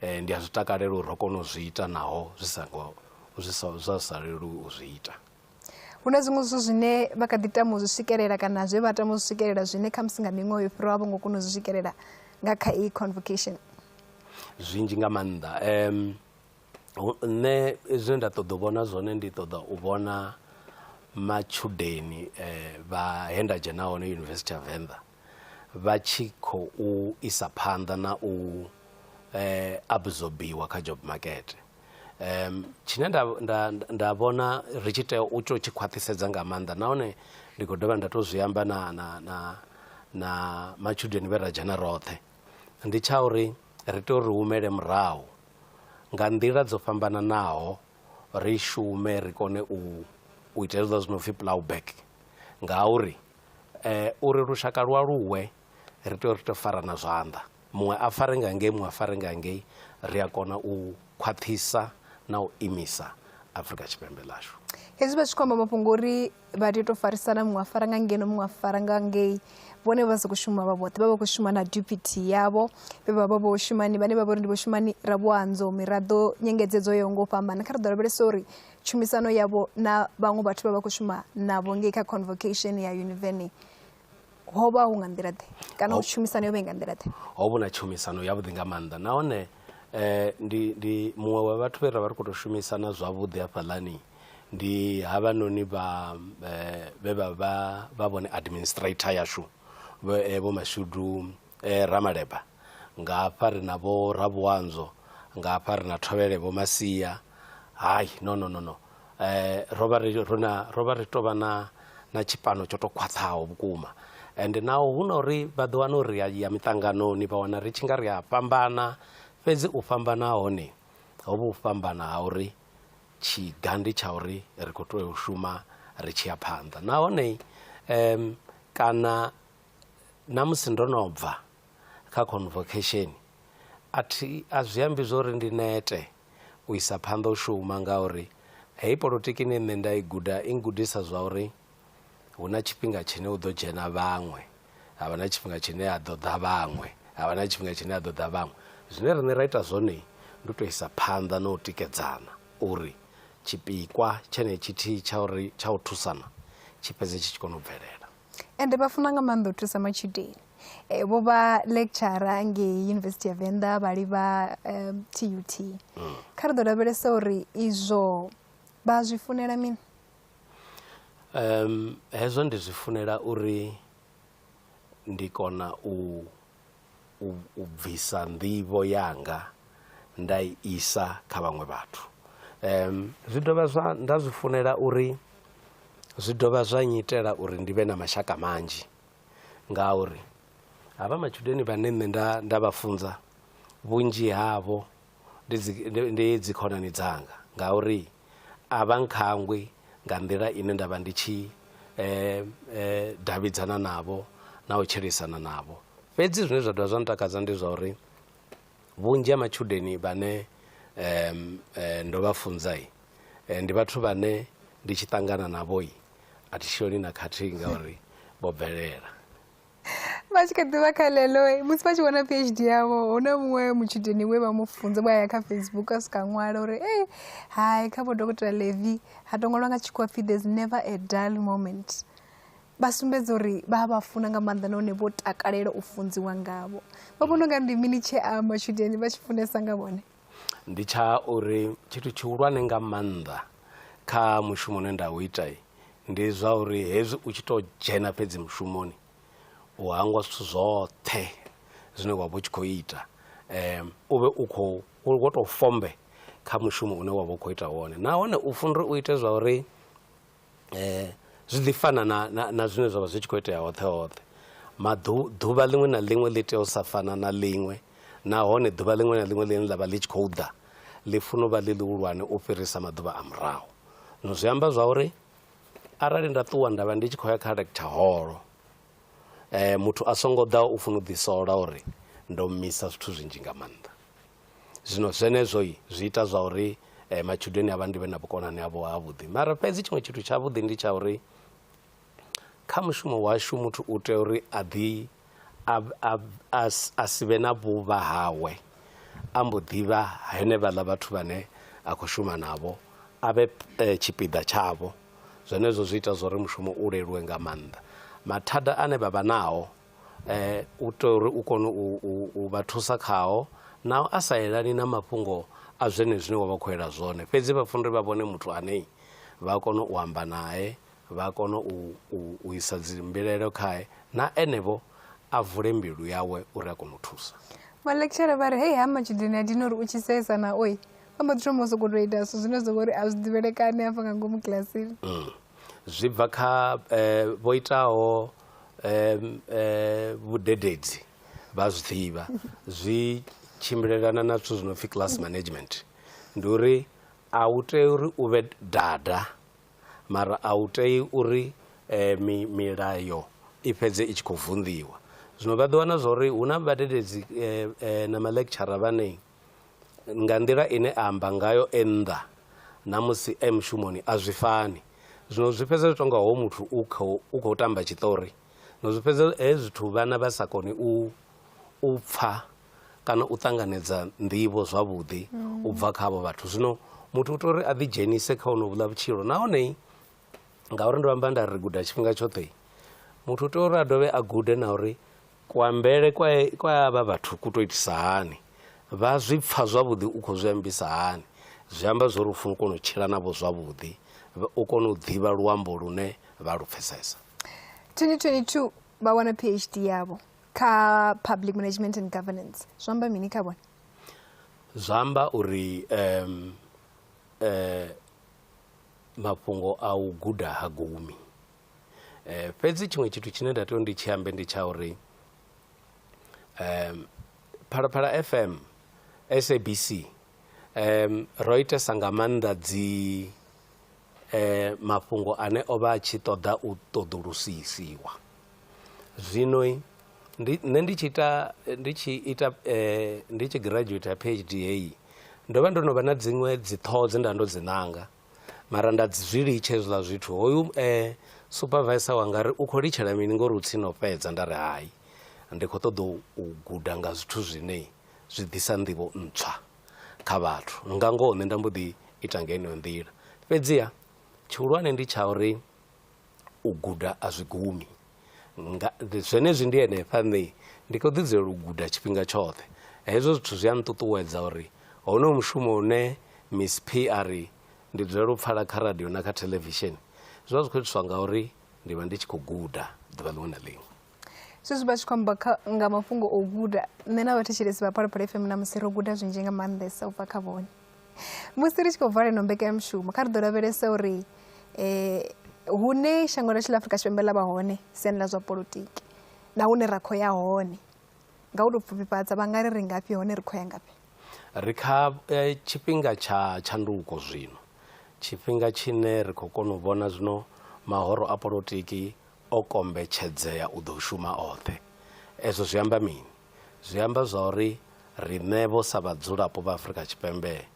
eh, ndi a zwi takalela uri ro kona u zwi ita naho zwi songo zwi sa- zwa sa leluwi u zwi ita hu na zwiṅwe zwithu zwine vha kha ḓi tama u zwi swikelela kana zwe vha tama u zwi swikelela zwine khamusi nga miṅwaha yo fhiraho a vho ngo kona u zwi swikelela nga kha iyi convocation zwinzhi nga maanḓa um, hu- nṋe zwine nda ṱoḓa u vhona zwone ndi ṱoḓa u vhona matshudeni eh, vha he nda dzhena hone yunivesithi ya venḓa vha tshi khou isa phanḓa na u absorbiwa kha job market. Tshine nda nda nda vhona ri tshi tea u tou tshi khwaṱhisedza nga maanḓa nahone ndi khou dovha nda tou zwi amba na na na na matshudeni vhe ra dzhena roṱhe ndi tsha uri ri tea uri humele murahu nga nḓila dzo fhambananaho ri shume ri kone u u ita hezwiḽa zwi no pfhi plough back ngauri Uri lushaka lu aluwe ri tea uri ri to farana zwanḓa muṅwe a fare nga ngei muṅwe a fare nga ngei, ria kona u khwaṱhisa nau imisa Afurika Tshipembe ḽashu. Hezwi vha tshi khou amba mafhungo uri vha tea u to farisana muṅwe a fara nga ngeno muṅwe a fara nga ngei vhone vha sa khou shuma vha vhoṱhe vha vha khou shuma na deputy yavho vhe vha vha vho shumani vhane vha vha uri ndi vho shumani ra vho andzo miraḓo nyengedzedzo yo ngo fhambana kha ri ḓo lavhelesa uri tshumisano yavho na vhaṅwe vhathu vha vha khou shuma navho ngei kha convocation ya univeni ho vha hu nga nḓila ḓe kana ho tshumisano yo vha i nga nḓila ḓe ho vhu na tshumisano yavhuḓi nga maanḓa nahone um ndi ndi muṅwe wa vhathu vhe ra vha ri khou tou shumisana zwavhuḓi hafhaḽani ndi havhanoni vha um vhe vha vha vha vhone administrator yashu vho eh, mashudu eh, ramaleba nga hafha ri na vho rabuanzo nga hafha ri na thovhele vho masia hayi no no no no eh, ro vha ri ro na- ro vha ri tou vha na na tshipano tsho tou khwaṱhaho vhukuma ende naho hu na uri vha ḓo wana uri ri a ya miṱanganoni vha wana ri tshi nga ri a fhambana fhedzi u fhambana ha hone ho vha u fhambana ha uri tshiga ndi tsha uri ri khou tea u shuma ri tshi ya phanḓa nahone em kana na musi ndo no bva kha convocation a thi a zwi ambi zwo uri ndi nete u isa phanḓa u shuma ngauri hei polotiki ine nṋe nda i guda i gudisa zwa uri hu na tshifhinga tshine hu ḓo dzhena vhaṅwe ha vha na tshifhinga tshine ha ḓo ḓa vhaṅwe ha vha na tshifhinga tshine ha ḓo ḓa vhaṅwe zwine riṋe ra ita zwone ndi u tou isa phanḓa na u tikedzana uri tshipikwa tshenetshi thihi tsha uri tsha u thusana tshi fhedze tshi tshi kona u bvelela ende vha funa nga maanḓa u thusa matshudeni eh, vho vha lecturer ngei university ya venḓa vha livha um, tut mm. kha ri ḓo lavhelesa uri izwo vha zwi funela mini um hezwo ndi zwi funela uri ndi kona u u, u bvisa nḓivho yanga nda i isa kha vhaṅwe vhathu um zwi dovha zwa nda zwi funela uri zwi dovha zwa nyitela uri ndi vhe na mashaka manzhi ngauri havha matshudeni vhane nṋe nda nda vha funza vhunzhi havho ndi dzi khonani dzanga ngauri a vha nkhangwi nga nḓila ine nda vha ndi tshi davhidzana navho na u tshilisana navho. Fhedzi zwine zwa dovha zwa ntakadza ndi zwa uri vhunzhi ha matshudeni vhane ndo vha funza ndi vhathu vhane ndi tshi ṱangana navho a thi shoni na khathihi ngauri vho bvelela. vha tshi kha ḓivha kha ḽeḽo musi vha tshi vhona phd yavho hu na muṅwe mutshudeni we vha mu funza vha ya kha facebook a swika ṅwala uri e hai kha vho dokotela levi ha to ṅwalwa nga tshikhuwa pfhi there's never a dull moment vha sumbedza uri vha vha funa nga maanḓa nahone vho takalela u funziwa ngavho vha vhona unga ndi mini tshee a matshudeni vha tshi funesa nga vhone ndi tsha uri tshithu tshihulwane nga maanḓa kha mushumo une nda u ita ndi zwa uri hezwi u tshi to dzhena fhedzi mushumoni u hangwa zwithu zwoṱhe zwine wa vha u tshi khou ita u vhe u khou wo tou fombe kha mushumo une wa vha u khou ita wone nahone u funa uri u ite zwa uri um zwi ḓi fana na na na zwine zwavha zwi tshi kho itea hoṱhe hoṱhe maḓu ḓuvha ḽiṅwe na ḽiṅwe ḽi tea u sa fana na ḽiṅwe nahone ḓuvha ḽiṅwe na ḽiṅwe ḽine ḽavha ḽi tshi khou ḓa ḽi funa u vha ḽi ḽihulwane u fhirisa maḓuvha a murahu no zwi amba zwa uri arali nda ṱuwa nda vha ndi tshi khou ya kha lecture holo muthu a songo ḓa u funa u ḓi sola uri ndo misa zwithu zwinzhi nga maanḓa. zwino zwenezwo zwi ita zwa uri eh, matshudeni avha ndi vhe na vhukonani havho havhuḓi mara fhedzi tshiṅwe tshithu tshavhuḓi ndi tsha uri kha mushumo washu muthu u tea uri a ḓi a si vhe na vhuvha hawe a mbo ḓivha henevhaḽa vhathu vhane a khou shuma navho a vhe eh, tshipiḓa tshavho zwenezwo zwi ita zwa uri mushumo u leluwe nga maanḓa mathada ane vha vha nao u itela uri u kone u vha thusa khao nao a sa elani na mafhungo a zwenezwi zwine wa vha khou ela zwone, fhedzi vha funa uri vha vhone muthu ane vha kona u amba nae, vha kona u isa dzi mbilaelo khae na ene vho a vule mbilu yawe uri a kone u thusa. Vhaḽekitshara vha ri, Hei ha matshudeni a dina uri u tshi seesa naoi, vha mbo ḓi thoma u sokou tou ita zwithu zwine zwa vha uri a zwi ḓivhelekani hafha nga ngomu kilasini. Zwi bva kha vho itaho vhudededzi vha zwi ḓivha zwi tshimbilelana na zwithu zwi no pfhi class management ndi uri a u tei uri u vhe dada mara a u tei uri mi milayo i fhedze i tshi khou vunḓiwa zwino vha ḓiwana zwa uri hu na vhadededzi na ma lecturer vhane Nga nḓila ine a amba ngayo e nnḓa na musi e mushumoni a zwi fani. Zwino zwi fhedza zwi tou nga hoyu muthu u khou u khou tamba tshiṱori, zwino zwi fhedza hezwi zwithu vhana vha sa koni u u pfha kana u ṱanganedza nḓivho zwavhuḓi u bva kha havho vhathu. Zwino muthu u tea uri a ḓidzhenise kha honovhuḽa vhutshilo nahone ngauri ndo amba nda ri guda tshifhinga tshoṱhe muthu u tea uri a dovhe a gude na uri kuambele kwa kwa avha vhathu ku to itisa hani vha zwi pfha zwavhuḓi u khou zwi ambisa hani zwi amba zwori u funa u kona u tshila navho zwavhuḓi u kone u ḓivha luambo lune vha lu pfhesesa 2022 vha wana phd yavho kha public management and governance zwi amba mini kha vhone zwi amba uri um, eh, mafhungo a u guda ha gumi um fhedzi tshiṅwe tshithu tshine nda tea u ndi tshi ambe ndi tsha uri um phalaphala fm sabc um ro itesa nga maanḓa dzi um mafhungo ane o vha a tshi ṱoḓa u ṱoḓulusisiwa Zwino ndi nṋe ndi tshi ita ndi tshi ita ndi tshi giradzhueitha PhD heyi ndo vha ndo no vha na dziṅwe dzi ṱhoho dze nda ndo dzi ṋanga mara nda dzi zwi litsha hezwiḽa zwithu hoyu supavaisa wanga ari u kho litshela mini ngori u tsini u fhedza nda ri hai ndi kho ṱoḓa u guda nga zwithu zwine zwi ḓisa nḓivho ntswa kha vhathu nga ngoho nṋe nda mbo ḓi ita nga heneyo nḓila fhedziha tshihulwane ndi tsha uri u guda a zwi gumi nga zwenezwi ndi henefha nṋe ndi khou ḓi dzulela u guda tshifhinga tshoṱhe hezwo zwithu zwi a nṱuṱuwedza uri honoyo mushumo une miss p a ri ndi dzulela u pfala kha radio na kha theḽevishini zwi vha zwi khou itiswa ngauri ndi vha ndi tshi khou guda ḓuvha ḽiṅwe na ḽiṅwe zwezwi vha tshi khou amba nga mafhungo o guda nṋe na vhathetshelesi vha phalaphala fm na musi ro guda zwinzhi nga maanḓesa u bva kha vhone musi ri tshi khou vala ino mbekanyamushumo kha ri ḓo lavhelesa uri um hune shango lashu ḽa afrika tshipembe ḽa vha hone siani ḽa zwa politiki na hune ra khou ya hone nga u tou pfufhifhadza vha nga ri ri ngafhi hone ri khou ya ngafhi ri kha eh, tshifhinga tsha tshanduko zwino tshifhinga tshine ri khou kona u vhona zwino mahoro a politiki o kombetshedzea u ḓo shuma oṱhe. Ezwo zwi amba mini? Zwi amba zwa uri riṋevho sa vhadzulapo vha Afrika Tshipembe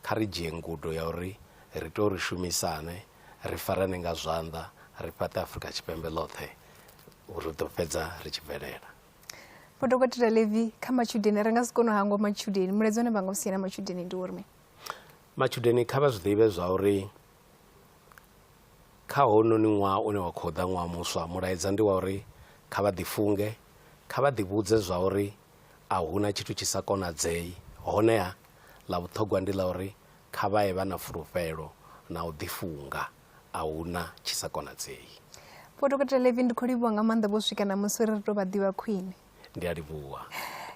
kha ri dzhie ngudo ya uri ri tea uri shumisane, ri farane nga zwanḓa, ri fhaṱe Afrika Tshipembe ḽoṱhe, ri ḓo fhedza ri tshi bvelela. Vho Dokotela Levi, kha matshudeni ri nga si kone u hangwa matshudeni, mulaedza une vha nga u sia na matshudeni ndi uri mini? Matshudeni kha vha zwi ḓivhe zwa uri Kha hounoni ṅwaha une wa khou ḓa, ṅwaha muswa, mulaedza ndi wa uri kha vha ḓifunge, kha vha ḓivhudze zwauri a hu na tshithu tshi sa konadzei. Honeha, ḽa vhuṱhogwa ndi ḽa uri kha vha ye vha na fulufhelo na u ḓifunga, a hu na tshi sa konadzei. Vho Dokotela Levy, ndi khou livhuwa nga maanḓa vho swika ṋamusi uri ri tou vha ḓivha khwine. ndi a livhuwa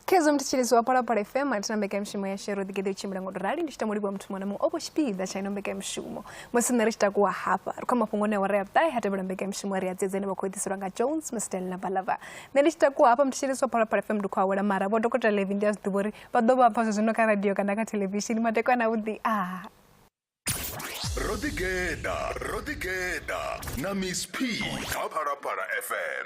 khezo mthitshirizi wa phalaphala fm atina mbekanyamushumo ya shero ḓigeḓe u tshimbila ngo to rali ndi tshi tamo livhuwa muthu muṅwe na muṅwe o vho tshipiḓa tsha ino mbekanyamushumo musi nṋe ri tshi takuwa hafha ri khou mafhungo ne awara ya vhuṱahe ha tevhela mbekanyamushumo ri a dzedza ine vha khou ḓiselwa nga jones mstel na balava nṋe ndi tshi takuwa hafha mthitshirizi wa phalaphala fm ndi khou awela mara vho dokotela levi ndi a zwi ḓivha uri vha ḓo vha pfa zwezwino kha radio kana kha thelevishini matekwana avhuḓi a ro ḓigeḓa ro ḓigeḓa na miss p kha phalaphala fm